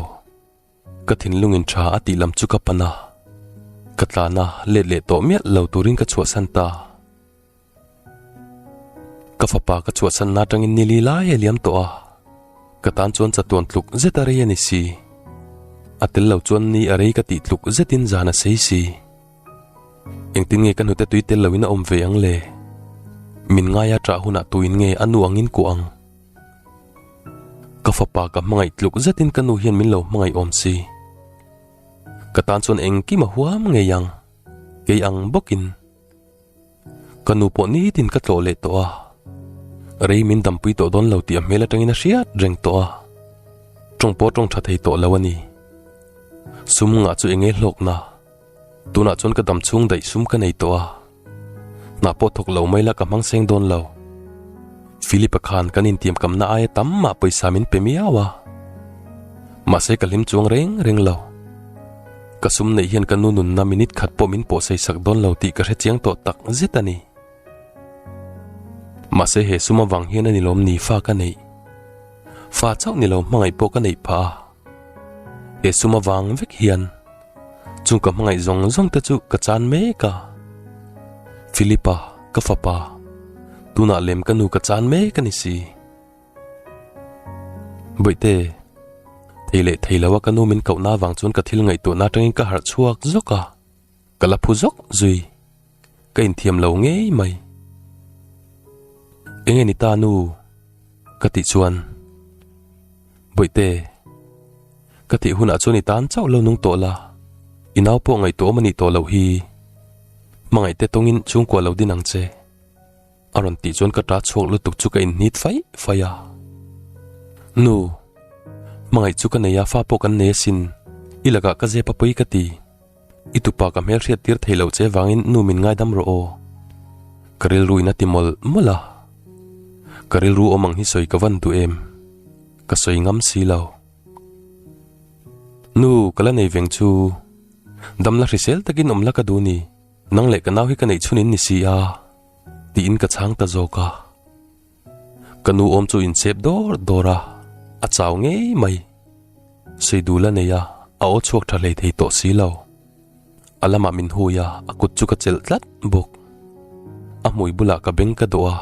Ka thinlungin tha a tih lam chu ka pan a, ka tlana let leh tawh miah lo turin ka chhuahsan ta. Ka fapa ka chhuahsanna atangin ni li lai a liam tawh a, ka tan chuan chatuan tluk zeta rei a ni si. A tel lo chuan ni a rei ka tih tluk zetin zan a sei si. Engtin nge ka hnute tui tel loin a awm ve ang le? Min ngai a tah hunah tuin nge a nu angin kuah ang? Ka fapa ka hmangaih tluk zetin ka nu hian min lo hmangaih awm si. Ka tan chuan engkim a huam ngei ang, kei ang bawkin ka nu pawh nitin ka tlawh leh tawh a, rei min dampui tawh dawn lo tih a hmel atangin a hriat reng tawh a, tawng pawh tawng tha thei tawh lo a ni. Sum ngah chu eng nge hlawkna, tunah chuan ka dam chhung daih sum ka nei tawh a. Hna pawh thawk lo mai la ka hmang seng dawn lo. Philip-a khan kan intiam kamna aia tam mah pawisa min pe miau a. Mahse ka hlim chuang reng reng lo. Ka sum neih hian ka nu nunna minute khat pawh min pawhsei sak dawn lo tih ka hre chiang tawh tak zet a ni. Mahse he sum avang hian a ni lawm ni fa ka neih. Fa chauh ni lo hmangaih pawh ka neih phah a. He sum avang vek hian chung ka hmangaih zawng zawng te chu ka chan mek a. Philipa, ka fapa, tunah lem ka nu ka chan mek a ni si. Bawihte, thei leh thei lo a ka nu min koh na vang chuan ka thil ngaihtuahna atangin ka harh chhuak zawk a. Ka la phu zawk zui, ka inthiam lo ngei mai. Eng e ni ta nu? Ka tih chuan, Bawihte, ka tih hunah chuan i tan chauh lo nung tawh la, i nau pawh ngaihtuah awm a nih tawh loh hi. Hmangaihte tawngin chhungkua lo din ang che. A rawn tih chuan ka ṭa chhuak lutuk chu ka innit faih faih a. Nu, hmangaih chu ka nei a, fa pawh kan nei asin, i lakah ka zep a pui ka ti. I tupa ka hmel hriat tir thei lo che vangin nu min ngai dam rawh aw. Ka rilru in a ti mawlh mawlh a. Ka rilru awm ang hi sawi ka van duh em? Ka sawi ngam si lo. Nu, ka la nei veng chu. Dam la hrisel takin awm la ka du ni. Nang leh ka nau hi ka neih chhunin ni si a. Tiin ka chhang ta zawk a. Ka nu awm chu in chep dawr dawr a, a chau ngei mai. Seidu la nei a, a aw chhuak tha hlei thei tawh si lo. A lamah min hui a, a kut chu ka chelh tlat bawk. A hmui bulah ka beng ka dawh a,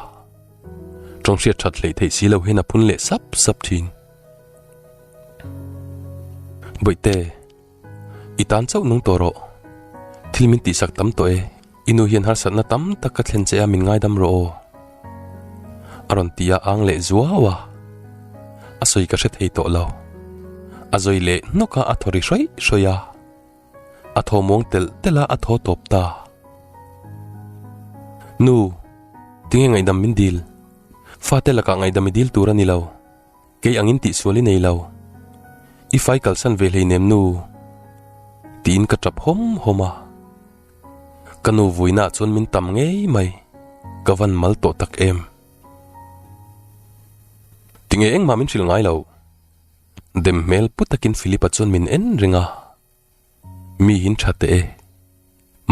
tawng hriat that hlei thei si lo hian a phun leh sap sap thin. Bawihte! I tan chauh nung tawh rawh. Thil min tih sak tam tawh e. I nu hian harsatna tam tak ka thlen che a, min ngaidam rawh aw. A rawn ti a âng leh zuau a. A sawi ka hre thei tawh lo. A zawi leh hnawk a a thaw ri hruai hruai a. A thaw muang telh telh a a thaw tawp ta. Nu, tinge ngaihdam min dil? Fate lakah ngaihdam i dil tur a ni lo. Kei angin tih sual i nei lo. I fai kalsan ve hlei nem nu. Tiin ka tap hawm hawm a. Ka nu vuina ah chuan min tam ngei mai. Ka van mal tawh tak em. Ti nge engmah min hrilh ngai lo. Dem hmel pu takin Philip-a chuan min en ring a. Miin tha teh e.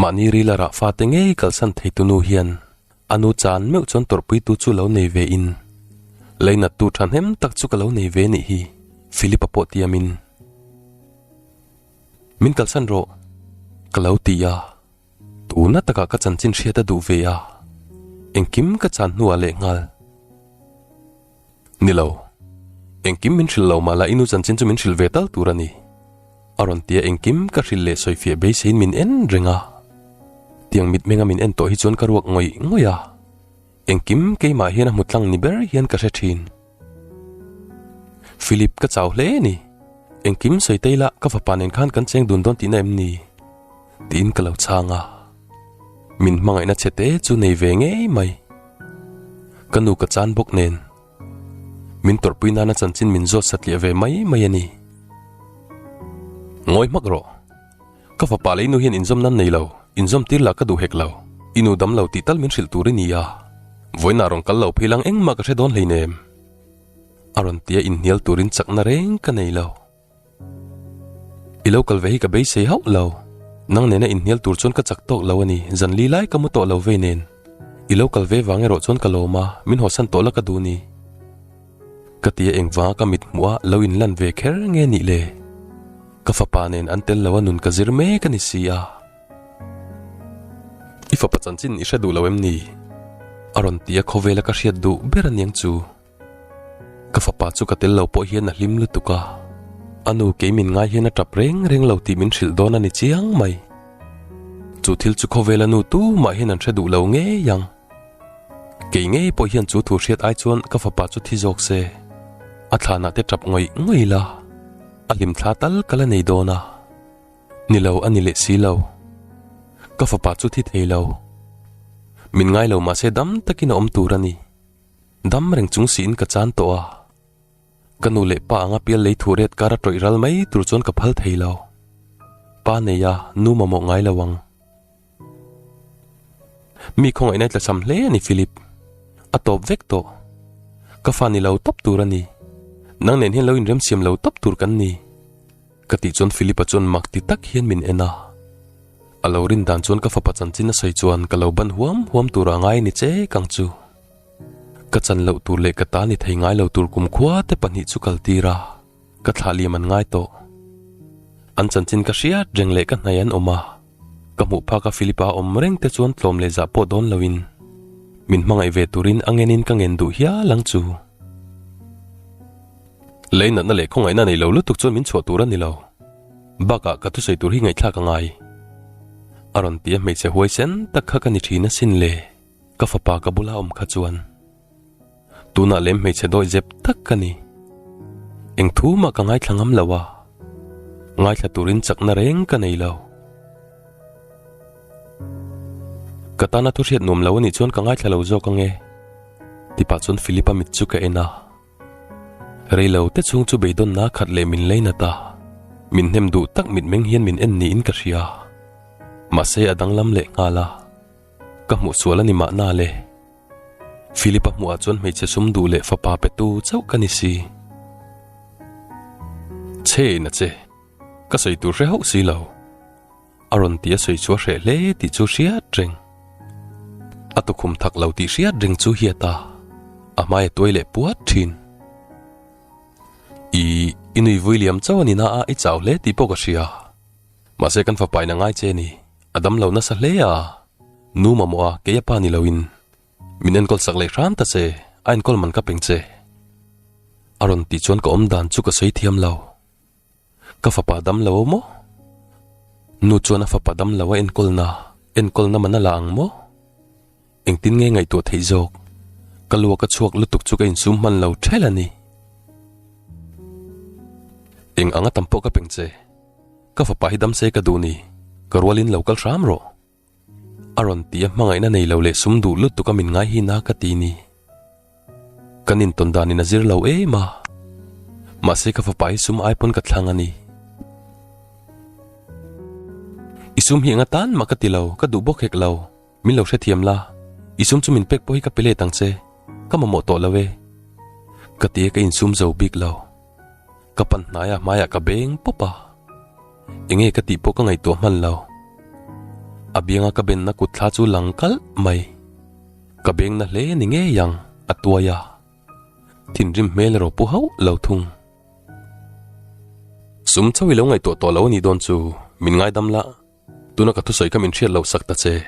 Mahni ril a rah fate ngei kalsan thei tu nu hian a nu chan meuh chuan tawrhpui tu chu lo nei ve in leinat tu thahnem tak chu ka lo nei ve nih hi Philip-a pawh ti a min min kalsan rawh ka lo ti a. Tuna taka ka chanchin hriat a duh ve a. Engkim ka chan hnuah lehnghal Ni lo. Engkim min hrilh lo mala i nu chanchin chu min hrilh ve tal tur a ni. A rawn tia engkim ka hrilh leh sawi fiah beiseiin min en reng a. Tiang mitmenga min en tawh hi chuan ka ruak ngawih ngawih a. Engkim keimah hian a hmu tlang ni ber hian ka hre thin. Philip ka chau hle ni. Engkim sawi tei la ka fapa nen khan kan cheng dun dawn tihna em ni? Tiin ka lo chhang a, min hmangaihna chhe te chu nei ve ngei mai. Ka nu ka chan bawk nen, min tawrhpui nana chanchin min zawt satliah ve mai mai a ni. Ngawi hmak rawh, ka fapa lei nu hian inzawm nan nei lo, inzawm tir lah ka duh hek lo, i nu dam lo tih tal min hrilh tur i ni a, vawiinah rawn kal lo phei lang engmah ka hre dawn hleinem a rawn tia inhnial turin chakna reng ka nei lo. I lo kal ve hi ka beisei hauh lo. Nang nena inhnial tur chuan ka chak tawk lo a ni, zanli lai ka mu tawh lo vei nen. I lo kal ve vang erawh chuan ka lawm a, min haw san tawh la ka duh ni? Ka ti a engvanga ka mit hmuh a lo in lan ve kher nge nih le. Ka fapa nen an tel loa nun ka zir mek a ni si a. I fapa chanchin i hre duh lo em ni? A rawn ti a khawvela ka hriat duh ber a niang chu. Ka fapa chu ka tel lo pawh hian a hlim lutuk a, a nu kei min ngai hian a tap reng reng lo tih min hrilh dawn a ni chiang mai. Chu thil chu khawvel a nu tu mah hian an hre duh lo ngei ang. Kei ngei pawh hian chu thu hriat ai chuan ka fapa chu thi zawk se, a thlanah te tap ngawih ngawih la, a hlim thla tal ka la nei dawn a. Ni lo a ni leh si lo. Ka fapa chu thi thei lo. Min ngai lo mah se dam takin a awm tur a ni. Dam reng chung siin ka chan tawh a, ka nu leh pa anga pial lei thuh ret kara tawih ral mai tur chuan ka phal thei lo. Pa neia nu mamawh ngai lo ang. Mi khawngaihna i tlachham hle a ni Philip. A tawp vek tawh. Ka fa ni lo tawp tur a ni. Nang nen hian lo inremsiam lo tawp tur kan ni. Ka tih chuan Philip-a chuan mak ti tak hian min en a. A lo rin dan chuan ka fapa chanchin a sawi chuan ka lo ban huam huam tur a ngai a ni che kang chu. Ka chan loh tur leh ka ta ni thei ngai lo tur kumkhua te pahnih chu kal tir a, ka thlah liam an ngai tawh. An chanchin ka hriat reng leh ka hnaih an awm a. Ka hmuh phak a Philip a awm reng te chuan tlawm leh zah pawh dawn lo in min hmangaih ve turin a ngen in ka ngen duh hial ang chu. Lei natna leh khawngaihna nei lo lutuk chuan min chhuah tur a ni lo. Bak ah ka thusawi tur hi ngaihthlak a ngai. A rawn ti a hmeichhe huaisen tak kha ka ni thin asin le ka fapa ka bula awm kha chuan. Tunah lem hmeichhe dawih zep tak ka ni. Engthu mah ka ngaithla ngam lo a, ngaithla turin chakna reng ka nei lo. Ka tana thu hriat nuam lo a nih chuan ka ngaithla lo zawk ang e. Tipah chuan Philip-a mit chu ka en a. Rei lo te chhung chu beidawnna a khat leh min leinat a, min hnem duh tak mitmeng hian min en niin ka hria. Mahse a danglam lehnghal a, ka hmuhsual a ni mahna le. Philipa hmuh ah chuan hmeichhe sum duh leh fapa pe tu chauh ka ni si. Chhe ina che, ka sawi tur hre hauh si lo. A rawn ti a sawi chu a hreh hle tih chu hriat reng. A tukhum thak lo tih hriat reng chu hiat a, a hmai a tuai leh puat thin. I, i nui vui liam chauh a ni na a i chau hle tih pawh ka hria. Mahse kan fapa ina ngai che ni, a dam lo nasa hle a, Nu mamawh a, kei a pa ni loin min enkawl sak leh hran ta che, a enkawl man ka peng che. A rawn tih chuan ka awm dan chu ka sawi thiam lo, ka fapa dam lo maw? Nu chuan a fapa dam lo a enkawl na, enkawl na man a la ang maw? Engtin nge ngaihtuah theih zawk? Ka lua ka chhuak lutuk chu ka insum hman lo ṭhel a ni. Eng anga tam pawh ka peng che. Ka fapa hi dam se ka duh ni, ka rualin lo kal hram rawh. A rawn ti a hmangaihna nei lo leh sum duh lutuk a min ngai hi na ka ti ni. Kan intawn danin a zir lo em a. Mahse ka fapa hi sum ai pawn ka thlang a ni. I sum hi eng atan mah ka ti lo, ka duh bawk hek lo. Min lo hrethiam la, i sum chu min pek pawh hi ka pe let ang che, ka mamawh tawh lo e. Ka ti a ka insum zo bik lo. Ka pan hnai a hmaiah ka beng pawp a. Enge ka tih pawh ka ngaihtuah hman lo. A bianga ka benna kut thla chu lang kalh mai. Ka bengna hle ni ngei ang, a tuai a. Thinrim hmel ero pu hauh lo thung. Sum chauh i lo ngaihtuah tawh lo a nih dawn chu min ngaidam la. Tuna ka thusawi ka min hriat loh sak ta che.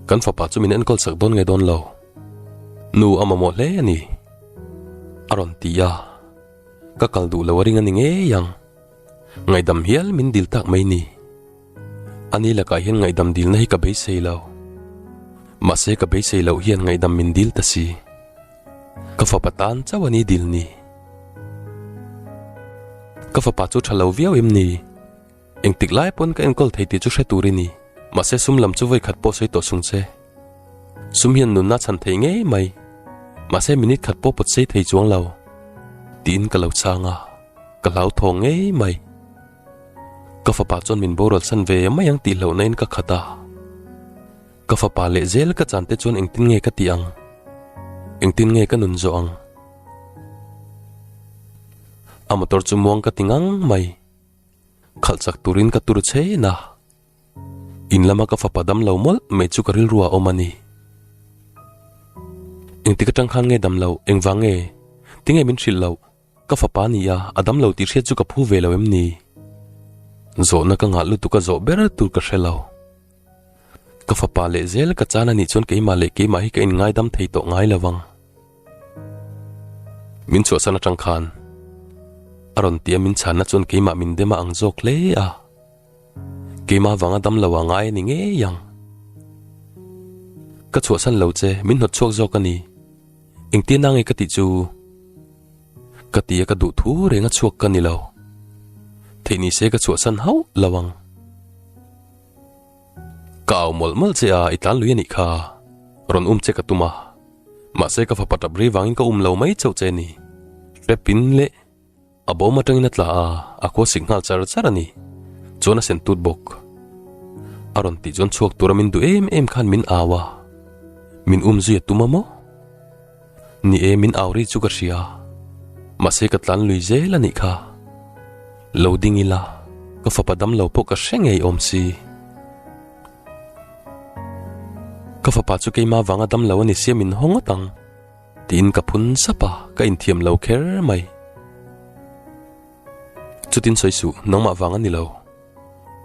Kan fapa chu min enkawl sak dawn nge dawn lo. Nu a mamawh hle a ni. A rawn ti a. Ka kal duh lo a ring a ni ngei ang. Ngaihdam hial min dil tak mai ni. A ni lakah hian ngaihdam dilna hi ka beisei lo. Mahse ka beisei loh hian ngaihdam min dil ta si. Ka fapa tan chauh a ni dil ni. Ka fapa chu tha lo viau em ni? Engtik lai pawn ka enkawl thei tih chu hre tur i ni. Mahse sum lam chu vawikhat pawh sawi tawh sung che. Sum hian nunna chhan thei ngei mai. Mahse minute khat pawh pawt sei thei chuang lo. Tiin ka lo chang a, ka hlauthawng ngei mai. Ka fapa chuan min borual san ve mai ang tih hlauh naiin ka khat a. Ka fapa leh zel ka chante chuan engtin nge ka tih ang? Engtin nge ka nun zawh ang? A motor chu muang ka ti ngang mai. Khalh chak turin ka tur chhein a, in lama ka fapa dam lo mawlh mai chu ka rilru a awm a ni. Engti ka tang khan nge dam lo, engvang nge? Tinge min hrilh loh? Ka fapa nia a dam lo tih hriat chu ka phu ve lo em ni? Zawhna ka ngah lutuk a zawh ber tur ka hre lo. Ka fapa leh zel ka chana nih chuan keimah leh keimah hi ka in ngaidam thei tawh ngai lo vang. Min chhuahsan atang khan a rawn tia min chhanna chuan keimah min dema ang zawk hle a. Keimah vanga dam lo a ngai a ni ngei ang. Ka chhuahsan lo che, min hnawt chhuak zawk a ni. Engtia na nge ka tih chu? Ka tia ka duh thu renga chhuak ka ni lo. Theih ni se ka chhuahsan hauh lo ang. Ka au mawlh mawlh che a, i tlan lui a nih kha. Rawn um che ka tum a. Mahse ka fapa tap rei vangin ka um lo mai chauh che a ni. Hre pin leh a bawm atangin a tla a, a khua sik nghal char char a ni. Chuan a sen tut bawk. A rawn tih chuan chhuak tura min duh em em khan min au a. Min um zui a tum a maw? Ni e, min au rih chu ka hria. Mahse ka tlan lui zel a nih kha. Lo ding ila, ka fapa dam lo pawh ka hre ngei awm si. Ka fapa chu keima vanga dam lo a ni sia min haw ngawt ang. Tiin ka phun sap a, ka inthiam lo kher mai. Chutin sawi suh, nangmah vang a ni lo.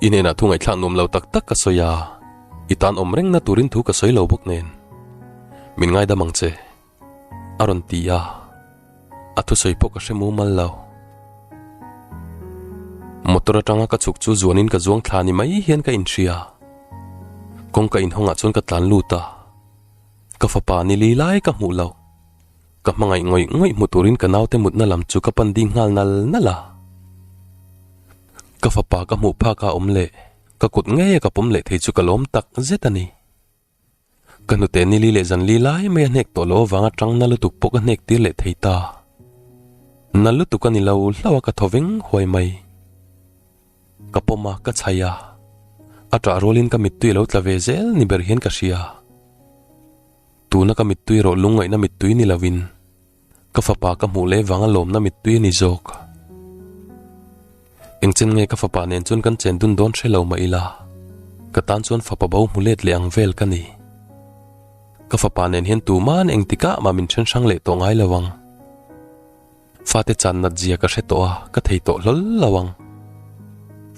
I hnenah thu ngaihthla nuam lo tak tak ka sawi a, i tan awm reng na turin thu ka sawi lo bawk nen min ngaidam ang che, a rawn ti a. A thusawi pawh ka hre mumal lo. Motor atanga ka chhuk chu zuanin ka zuang thla ni mai hian ka inhria. Kawngka inhawngah chuan ka tlan lut a, ka fapa ni li lai ka hmuh lo. Ka hmangaih ngawih ngawih hmu turin ka naute mutna lam chu ka pan ding nghal nal nal a. Ka fapa ka hmuh phaka awm leh ka kut ngei a ka pawm leh thei chu ka lawm tak zet a ni. Ka hnute Nili leh Zanli lai mai a hnek tawh loh avang atang na lutuk pawh ka hnek tir leh thei ta. Nal lutuk a ni lo hlauh a ka thaw veng huai mai. Ka pawm a, ka chhai a, a tah rualin ka mittui a lo tla ve zel ni ber hian ka hria. Tuna ka mittui erawh lungngaihna mittui ni lovin, ka fapa ka hmuh leh vanga lawmna mittui a ni zawk. Engchen nge ka fapa nen chuan kan chen dun dawn hre lo mah ila, ka tan chuan fapa bo hmu let leh ang vel ka ni. Ka fapa nen hian tuman engtikah mah min hrenshrang leh tawh ngai lovang. Fate chan nat zia ka hre tawh a, ka thei tawh hlawl lo ang.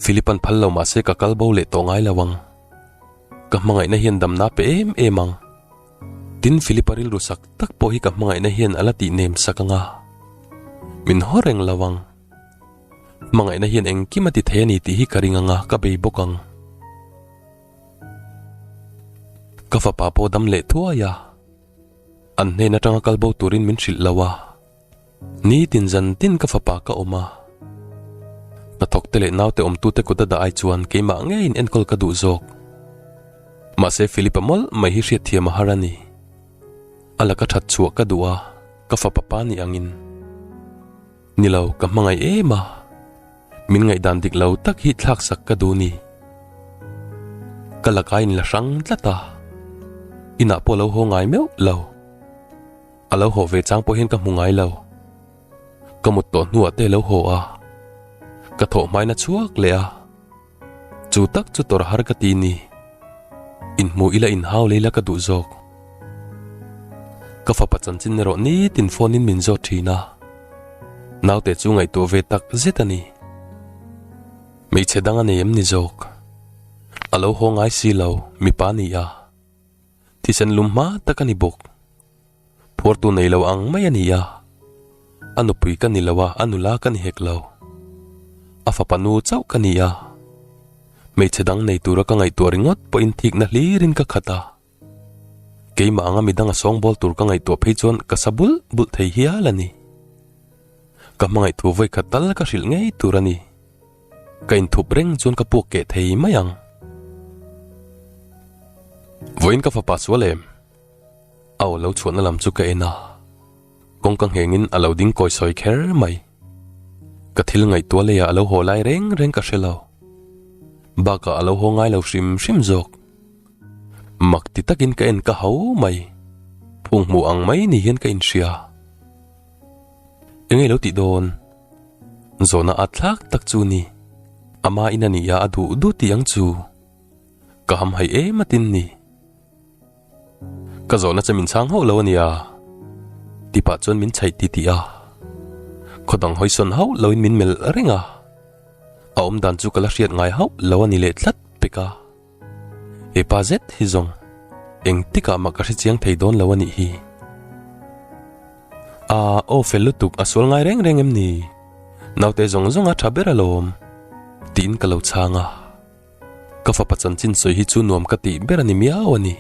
Philip an phal lo mah se ka kal bo leh tawh ngai lo ang. Ka hmangaihna hian damna pe em em ang. Tin Philip a rilru sak tak pawh hi ka hmangaihna hian a la tih nem sak anga. Min haw reng lo ang. Hmangaihna hian engkim a ti thei a ni tih hi ka ring anga ka bei bawk ang. Ka fapa pawh dam leh thuai a. An hnen atanga kal bo turin min hrilh lo a. Nitin zan tin ka fapa ka awm a, ka thawkte leh naute awmtute kut a dah ai chuan keimah ngeiin enkawl ka duh zawk. Mahse Philip-a mawlh mai hi hriatthiam a har a ni. A la ka that chhuah ka duh a, ka fapa pa nih angin. Ni lo, ka hmangaih em a, min ngaihdan dik lo tak hi thlak sak ka duh ni. Ka laka in la hrang tlat a, inah pawh a lo haw ngai meuh lo. A lo haw ve chang pawh hian ka hmu ngai lo. Ka mut tawh hnuah te lo haw a, ka thaw hmai na chhuak leh a. Chu tak chu tawrh har ka ti ni. Inhmu ila inhau lei la ka duh zawk. Ka fapa chanchin erawh nitin phone in min zawt thin a. Naute chu ngaihtuah ve tak zet a ni. Hmeichhe dang a nei em ni zawk. A lo haw ngai si lo, mipa nia. Thisen lum hma tak a ni bawk. Phuartu nei lo ang mai a ni a. A nupui ka ni lo a, a nula ka ni hek lo. A fapa nu chauh ka ni a. Hmeichhe dang nei tura ka ngaihtuah ringawt pawhin thikna hlirin ka khat a. Keimah anga mi danga sawngbawl tur ka ngaihtuah phei chuan ka sa bulh bulh thei hial a ni. Ka hmangaih thu vawikhat tal ka hrilh ngei tur a ni. Ka inthup reng chuan ka puak keh thei mai ang. Vawiin ka fapa sual em? Aw lo chhuahna lam chu ka en a, kawng ka nghengin a lo ding kawi sawi kher mai. Ka thil ngaihtuah leiah a lo haw lai reng reng ka hre lo. Bakah a lo haw ngai lo hrim hrim zawk. Mak ti takin ka en ka hau mai, phunghmuh ang mai ni hian ka inhria. Enge lo tih dawn? Zawhna at thlak tak chu ni. Ama in a nih a a duh duh tih ang chu. Ka ham hai em atin ni. Ka zawhna che min chang hauh lo a nia. Tipah chuan min chhaih ti ti a. Khaw dang hawisawn hauh lo in min melh reng a. A awm dan chu ka la hriat ngai hauh lo a ni leh tlat pek a. Hepa zet hi zawng engtikah mah ka hre chiang thei dawn lo a nih hi. Aah aw fel lutuk a sual ngai reng reng em ni? Naute zawng zawnga tha ber alawm tiin ka lo chhang a. Ka fapa chanchin sawi hi chu nuam ka tih ber a ni miau a ni.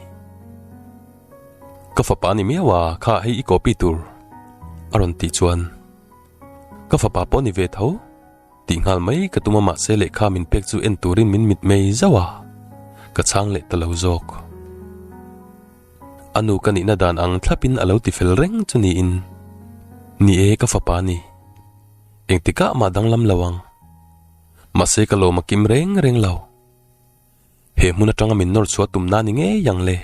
Ka fapa ni miau a kha hei i copy tur a rawn tih chuan ka fapa pawh ni ve tho. tih nghal mai ka tum a mahse lehkha min pek chu en turin min mit mai zauh a, ka chhang leh ta lo zawk. A nu ka nihna dan ang thlapin a lo ti fel reng chu niin, Ni e ka fapa ni, engtikah mah danglam lo ang. Mahse ka lawm a kim reng reng lo. He hmun atanga min nawr chhuah tum na ni ngei ang le.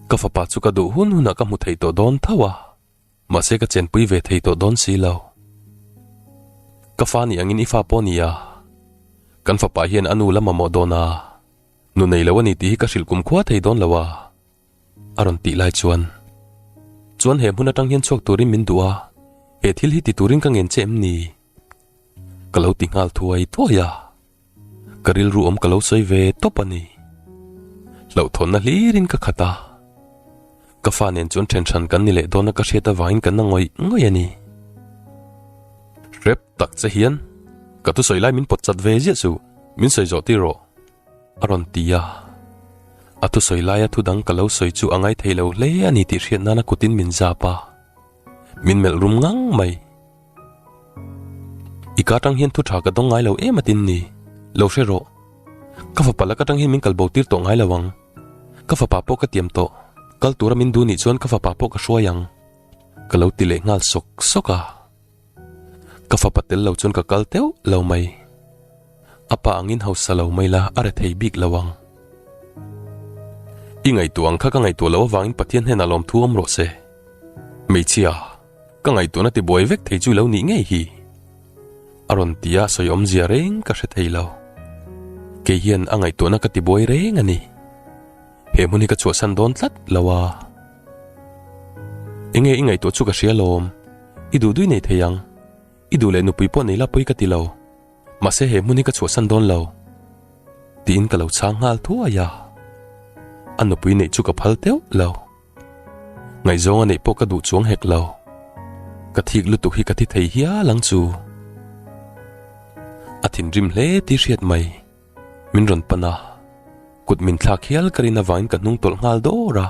Ka fapa chu ka duh hun hunah ka hmu thei tawh dawn tho a. Mahse ka chenpui ve thei tawh dawn si lo. Ka fa nih angin i fa pawh ni a, kan fapa hian a nu lam mamawh dawn a, nu nei lo a ni tih hi ka hrilh kumkhua thei dawn lo a, a rawn tih lai chuan. Chuan he hmun atang hian chhuak turin min duh a, he thil hi ti turin ka ngen che em ni? Ka lo ti nghal thuai thuai a. Ka rilru awm ka lo sawi ve tawp a ni. Hlauhthawnna hlirin ka khat a. Ka fa nen chuan thenhran kan ni leh dawna ka hriat avangin ka na ngawih ngawih a ni. Hrep tak che hian, Ka thusawi lai min pawt chat ve ziah suh, min sawi zawh tir aw, a rawn ti a. A thusawi laia thudang ka lo sawi chu a ngai thei lo hle a ni tih hriat nana kutin min zap a. Min melh rum ngang mai. I ka tang hian thu tha ka dawng ngai lo em atin ni? Lo hre rawh. Ka fapa la ka tang hian min kal bo tir tawh ngai lo ang. Ka fapa pawh ka tiam tawh, kal tura min duh nih chuan ka fapa pawh ka hruai ang. Ka lo ti leh nghal sawk sawk a. Ka fapa tel lo chuan ka kal teuh lo mai. A pa ang in hausa lo mai la, a re thei bik lo ang. I ngaihtuah ang kha ka ngaihtuah loh avangin Pathian hnenah lawm thu awm rawh se. Hmeichhia. Ka ngaihtuah na ti buai vek thei chu lo nih ngei hi. A rawn ti a sawi awmzia reng ka hre thei lo. Kei hian a ngaihtuah na ka ti buai reng a ni. He hmun hi ka chhuahsan dawn tlat lo a. Enge i ngaihtuah chu ka hria lawm. I duh dui nei thei ang. I duh leh nupui pawh nei la pawh i ka ti lo. Mahse he hmun hi ka chhuahsan dawn lo. Tiin ka lo chhang nghal thuai a. A nupui neih chu ka phal teuh lo. Ngai zawng a neih pawh ka duh chuang hek lo. Ka thik lutuk hi ka thi thei hial ang chu. A thinrim hle ti hriat mai. Min rawn pan a. Kut min thlak hial ka rin avangin ka hnung tawlh nghal dawr a.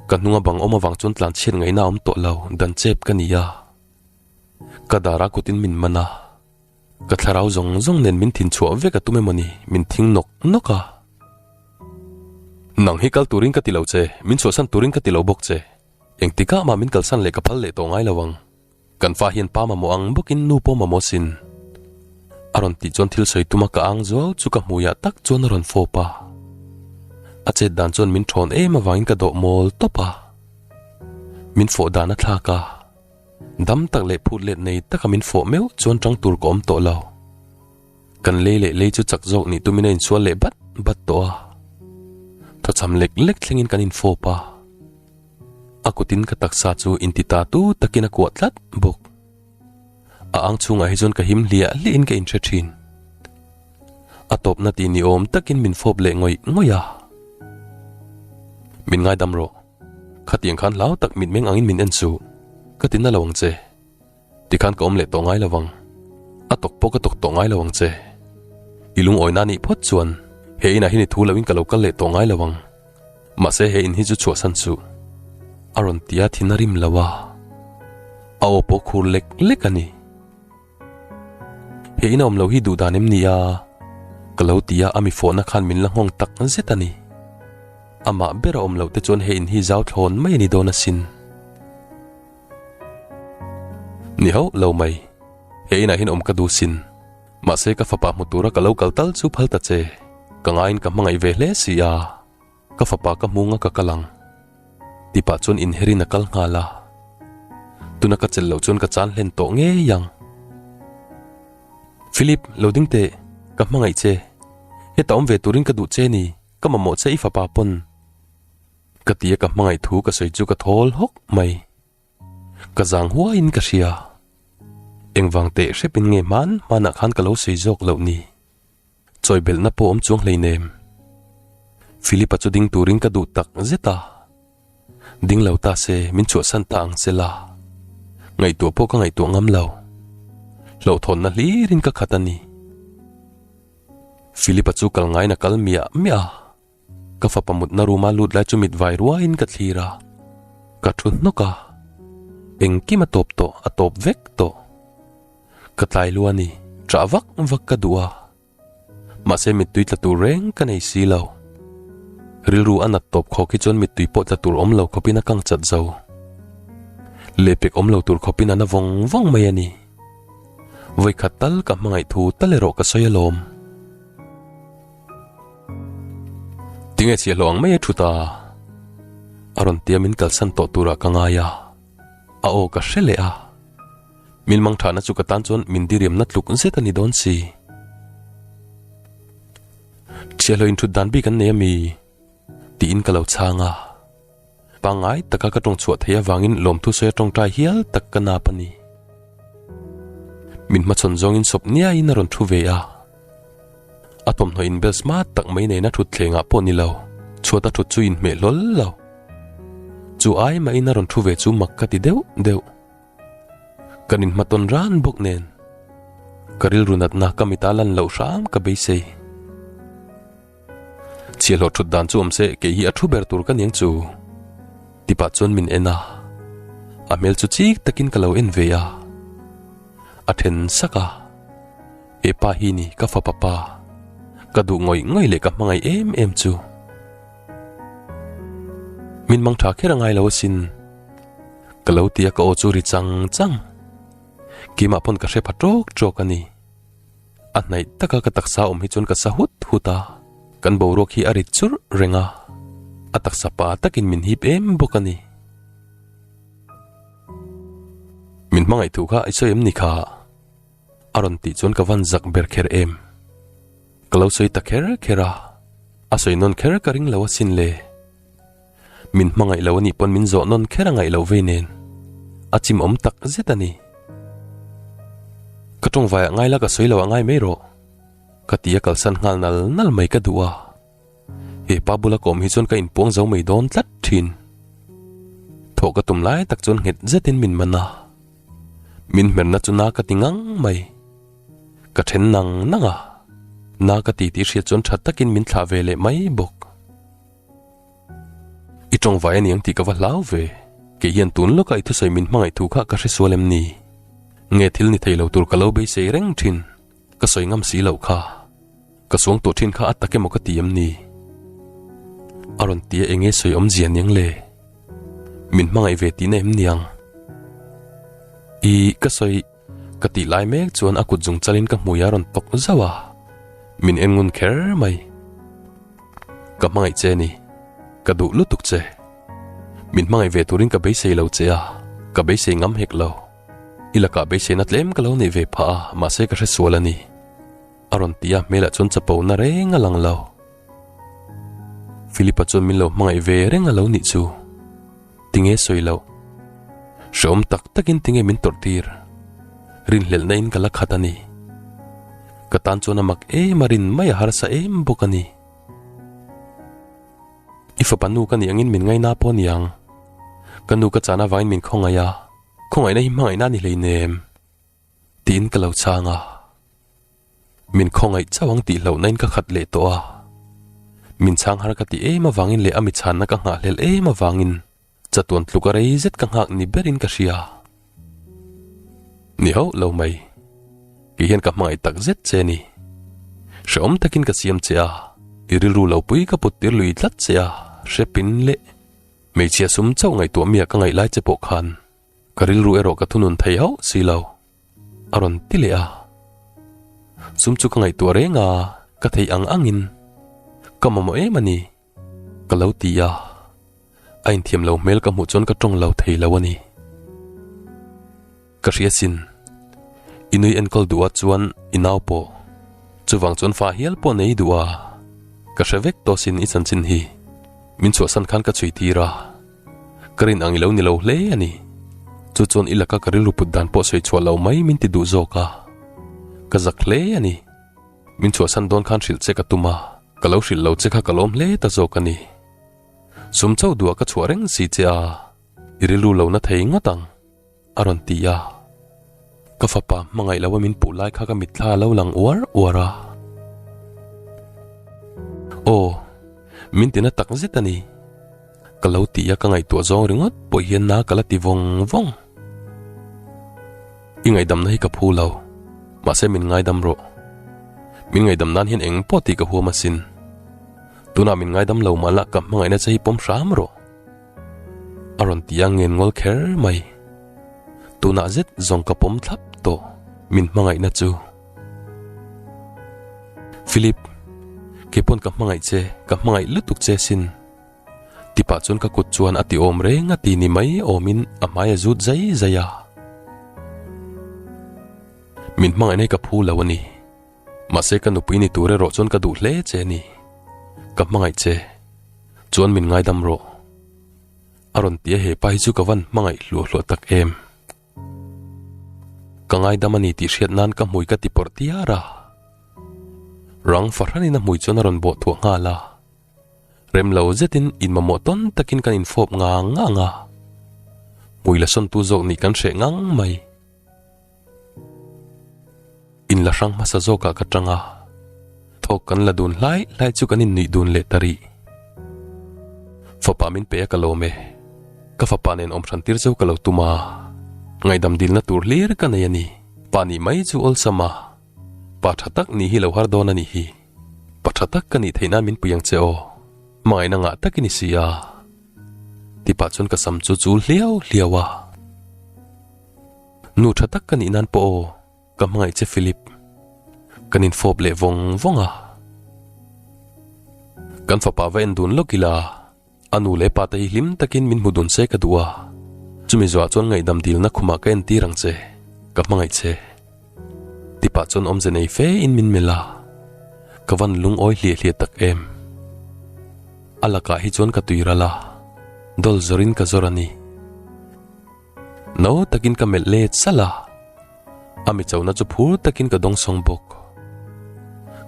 Ka hnung a bang awm avang chuan tlan chhiat ngaihna a awm tawh lo, dan chep ka ni a. Ka dar a kutin min man a. Ka thlarau zawng zawng nen min thin chhuah vek a tum em awni, min thing nawk nawk a. Nang hi kal turin ka ti lo che, min chhuahsan turin ka ti lo bawk che. Engtikah mah min kalsan leh ka phal leh tawh ngai lo ang. Kan fa hian pa mamawh ang bawkin nu pawh mamawh sin. A rawn tih chuan thil sawi tuma ka ang zuau chu ka hmuiah tak chuan a rawn fawp a. A chet dan chuan min ṭhawn em avangin ka dawh mawl tawp a. Min fawh dan a thlak a. Dam tak leh phut let nei taka min fawh meuh chuan tang tur ka awm tawh lo. Kan lei leh lei chu chak zawk nih tumina insual leh bat bat tawh a. Thawchham lek lek thlengin kan infawp a. A kutin ka taksa chu inti ta tu takin a kuah tlat bawk. A ang chungah hi chuan ka him hliah hliahin ka inhre thin. A tawpna tih ni awm takin min fawp leh ngawih ngawih a. Min ngaidam rawh. Khatiang khan hlau tak mitmeng angin min en suh, ka ti na lo ang che. Tikhan ka awm leh tawh ngai lovang. A tawk pawh ka tawk tawh ngai lovang che. I lungawina anih phawt chuan he inah hian i thu loin ka lo kal leh tawh ngai lovang. Mahse he in hi chu chhuahsan suh. A rawn ti a thin a rim lo a. A aw pawh khur lek lek a ni. He in a awm lo hi duhdan em nia ka lo ti a, a mi fawhna khan min la nghawng tak zet a ni. Amah ber a awm loh te chuan he in hi zau thlawn mai a ni dawn asin. Ni hauh lo mai, he inah hin awm ka duh sin. Mahse ka fapa hmu tura ka lo kal tal chu phal ta che, ka ngaiin ka hmangaih ve hle si a. Ka fapa ka hmung a ka kal ang ti pah chuan inherin a kal nghal a, tuna ka chelh loh chuan ka chan hlen tawh ngei ang. Philip, lo ding teh, ka hmangaih che, heta awm ve turin ka duh che ni, ka mamawh che i fapa pawn, ka ti a ka hmangaih thu ka sawi chu ka thawl hawk mai. Ka zang huaiin ka hria. Engvang teh hrepin nge hman hmanah khan ka lo sawi zawk loh ni? Chawihbelhna pawh awm chuang hleinem. Philip-a chu ding turin ka duh tak zet a. Ding lo ta se, min chhuahsan ta ang se la. Ngaihtuah pawh ka ngaihtuah ngam lo. Hlawhthawnna hlirin ka khat a ni. Philip-a chu kal ngaina kal miah miah a. Ka fapa mutna ruma lut lai chu mit vai ruain ka thlir a, ka thu hnawk a, engkim a tawp tawh a tawp vek tawh. Ka tlai lu a ni, chah vak vak ka duh a, mahse mittui tla tur reng ka nei si lo. Rilru a nat tawp khawk hi chuan mittui pawh tla tur awm lo khawp in a kang chat zo. Lehpek awm lo tur khawp in a na vawng vawng mai a ni. Vawikhat tal ka hmangaih thu tal erawh ka sawi alawm. Tinge chhia hlawh ang mai e thuta. A rawn tia min kalsan tawh tura ka ngai a. A aw ka hre leh a. Min mang thana chu ka tan chuan min diriamna tluk zet a ni dawn si. Chhia hlawh inthut dan bik an nei a mi? Tiin ka lo chhang a. Pangngai taka ka tawng chhuah theih avangin lawmthu sawi a tawng tai hial tak ka nap a ni. Min hmachhawn zawngin sawp niaiin a rawn thu ve a. A thawmhnaw inbel smart tak mai neina thutthlengah pawh ni lo, chhuata thut chu inhmeh hlawl lo. Chu ai mahin a rawn thu ve chu mak ka ti deuh deuh. Kan inhma tawn ran bawk nen ka rilru natna ka mit a lan loh hram ka beisei. Chhia hlawh thut dan chu awm se, kei hi a thu ber tur ka ning chu. Tipah chuan min en a, a hmel chu chik takin ka lo en ve a. A then sak a, E pa hi ni ka fa papa, ka duh ngawih ngawih leh ka hmangaih em em chu. Min mang tha kher a ngailo asin, ka lo ti a ka aw chu ri chang chang. Keimah pawn ka hre pha trawk trawk a ni. A hnaih taka ka taksa awm hi chuan ka sa hut hut a, kan boruak hi a rit churh reng a, a taksa pa takin min hip em bawk a ni. Min hmangaih thu kha i sawi em ni kha? A rawn tih chuan ka van zak ber kher em. Ka lo sawi ta kher kher a, a sawi nawn kher ka ring lo asin le. Min hmangaih lo anih pawn min zawh nawn kher a ngaih loh vei nen a chim awm tak zet a ni. Ka tawngvai ah ngai la ka sawi lo a ngai mai rawh ka ti a kalsan nghal nal nal mai ka duh a. He pa bula kawm hi chuan ka in puang zo mai dawn tlat thin. Thawh ka tum lai tak chuan nghet zet in min man a. Min hmer na chu na ka ti ngang mai. Ka then nang nang a. Na ka ti tih hriat chuan tha tak in min thlah ve leh mai bawk. I tawngvai a niang tih ka va hlau ve. Kei hian tun lawka i thusawi min hmangaih thu kha ka hre sual em ni? Nge thil ni thei lo tur ka lo beisei reng thin? Ka sawi ngam si lo kha. Ka suang tawh thin kha a tak emaw ka ti em ni? A rawn ti a enge sawi awm zia niang le? Min hmangaih ve tihna em niang? I ka sawi. Ka tih lai mek chuan a kut zung chal in ka hmui a rawn tawk zauh a, min en ngun kher mai. Ka hmangaih che ni, ka duh lutuk che. Min hmangaih ve tur in ka beisei lo che a, ka beisei ngam hek lo. I lakah beisei na tlem ka lo neih ve phah a, mahse ka hre sual a ni. A rawn tih a hmel ah chuan chapo na reng a lang lo. Philip a chuan min lo hmangaih ve reng a lo nih chu. Tinge sawi loh. Hreawm tak takin tinge min tawrh tir. Rinhlelhna in ka la khat a ni. Ka tan chuan a mak em a rin mai a harsa em bawk a ni. I fapa nu ka nih angin min ngaih na pawh a niang. Ka nu ka chahna vangin min khawngaih a. Khawngaihna hi hmangaihna a ni hleinem. Tiin ka lo chhang a. Min khawngaih chauh ang tih hlauhna in ka khat leh tawh a, min chhang har ka ti em avangin leh a mi chhanna ka nghahhlel em avangin chatuan tluka rei zet ka nghak ni berin ka hria. Ni hauh lo mai. Kei hian ka hmangaih tak zet che a ni. Hre awm takin ka siam che a, i rilru lo pui ka put tir lui tlat che a, hre pin leh hmeichhia sum chauh ngaihtuah mia ka ngaih lai che pawh khan Ka rilru erawh ka thunun thei hauh si lo, a rawn ti leh a. Sum chu ka ngaihtuah reng a, ka theih ang angin, Ka mamawh em a ni? ka lo ti a. A inthiam lo hmel ka hmuh chuan ka tawng lo thei lo a ni. Ka hriatsin, i nui enkawl duh ah chuan i nau pawh, chuvang chuan fa hial pawh nei duh a, ka hre vek tawh sin i chanchin hi min chhuahsan khan ka chhui tir a. Ka rin ang i lo ni lo hle a ni. Chu chuan i laka ka rilru put dan pawh sawi chhuah lo mai min ti duh zawk a. Ka zak hle a ni. Min chhuahsan dawn khan hrilh che ka tum a, ka lo hrilh lo che kha ka lawm hle ta zawk a ni. Sum chauh duh a ka chhuah reng si che a, i rilru lo na thei ngawt ang. A rawn ti a, ka fapa hmangaih loh a min puh lai kha ka mitthla a lo lang uar uar a. Aw, min ti na tak zet a ni, ka lo ti a ka ngaihtuah zawng ringawt pawh hian na ka la ti vawng vawng. I ngaihdamna hi ka phu lo, mahse min ngaidam rawh. Min ngaidam nan hian engpawh tih ka huam asin. Tunah min ngaidam lo mahla ka hmangaihna che hi pawm hram rawh. A rawn ti a ngen ngawl kher mai. Tunah zet zawng ka pawm thlap tawh min hmangaihna chu. Philip, kei pawn ka hmangaih che, ka hmangaih lutuk che sin. Tipah chuan ka kut chuan a ti awm reng a ti ni mai awmin a hmai a zut zai zai a. Min hmangaihna hi ka phu lo a ni. Mahse ka nupui ni tur erawh chuan ka duh hle che a ni. Ka hmangaih che, chuan min ngaidam rawh. A rawn ti a hepa hi chu ka van hmangaih hluah hluah tak em. Ka ngaidam a ni tih hriat nan ka hmui ka ti pawrh tiar a. Rang fahranin a hmui chuan a rawn bawh thuah nghal a. Rem lo zetin in mamawh tawn takin kan infawp ngang ngang a. Hmui la sawntu zawk nih kan hreh ngang mai. In la hrang hmasa zawkah ka tang a, thawk kan la dun hlai hlai chu kan innuih dun leh ta rih. Fapa min pe a ka lawm e, ka fapa nen awm hran tir chu ka lo tum a, ngaihdam dilna tur hlir ka nei a ni. Pa nih mai chu awlsam a, pa tha tak nih hi lo har dawn a nih hi. Pa tha tak ka nih theih nan min pui ang che aw, hmangaihna ngah tak i ni si a. Tihpah chuan ka sam chu chul hliau hliau a. Nu tha tak ka nih nan pawh aw ka hmangaih che Philip. Kan in fawp leh vawng vawng a. Kan fapa va en dun lawk ila a nu leh pa te hi hlim takin min hmu dun se ka duh a. Chumi zuah chuan ngaihdam dilna khumah ka en tir ang che, ka hmangaih che. Tipah chuan awmze nei fe in min melh a. Ka van lungawi hliah hliah tak em. A lakah hi chuan ka tui ral a, dawlzawrin ka zawr a ni. No takin ka melh let sal a, a mi chona chu phur takin ka dawng sawng bawk.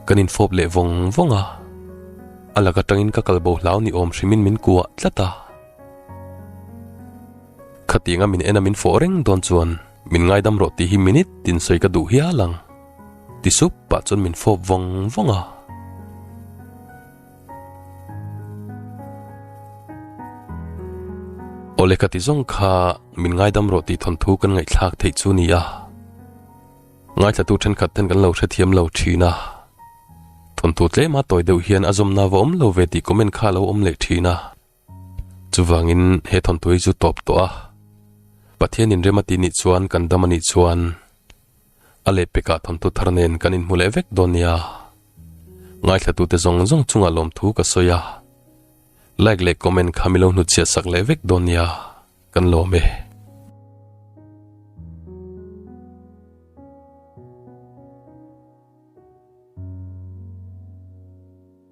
Kan infawp leh vawng vawng a, a lak atangin ka kal bo hlau ni awm hrimin min kuah tlat a. Khatianga min en a min fawh reng dawn chuan min ngaidam rawh tih hi minute tinsawi ka duh hial ang. Ti sup pah chuan min fawp vawng vawng a. Awle ka ti zawng kha min ngaidam rawh tih thawnthu kan ngaihthlak theih chu ni a. Ngaithlatu thenkhat ten kan lo hrethiam lo thin a. Thawnthu tlema tawi deuh hian a zawmna va awm lo ve tih comment kha a lo awm leh thin a. Chuvangin he thawntui hi chu tawp tawh a, Pathianin rem a tih nih chuan kan dam a nih chuan a leh pekah thawnthu thar nen kan inhmu leh vek dawn nia. Ngaithlatute zawng zawng chunga lawmthu ka sawi a, like leh comment kha mi lo hnu chhiah sak leh vek dawn nia, kan lawm e.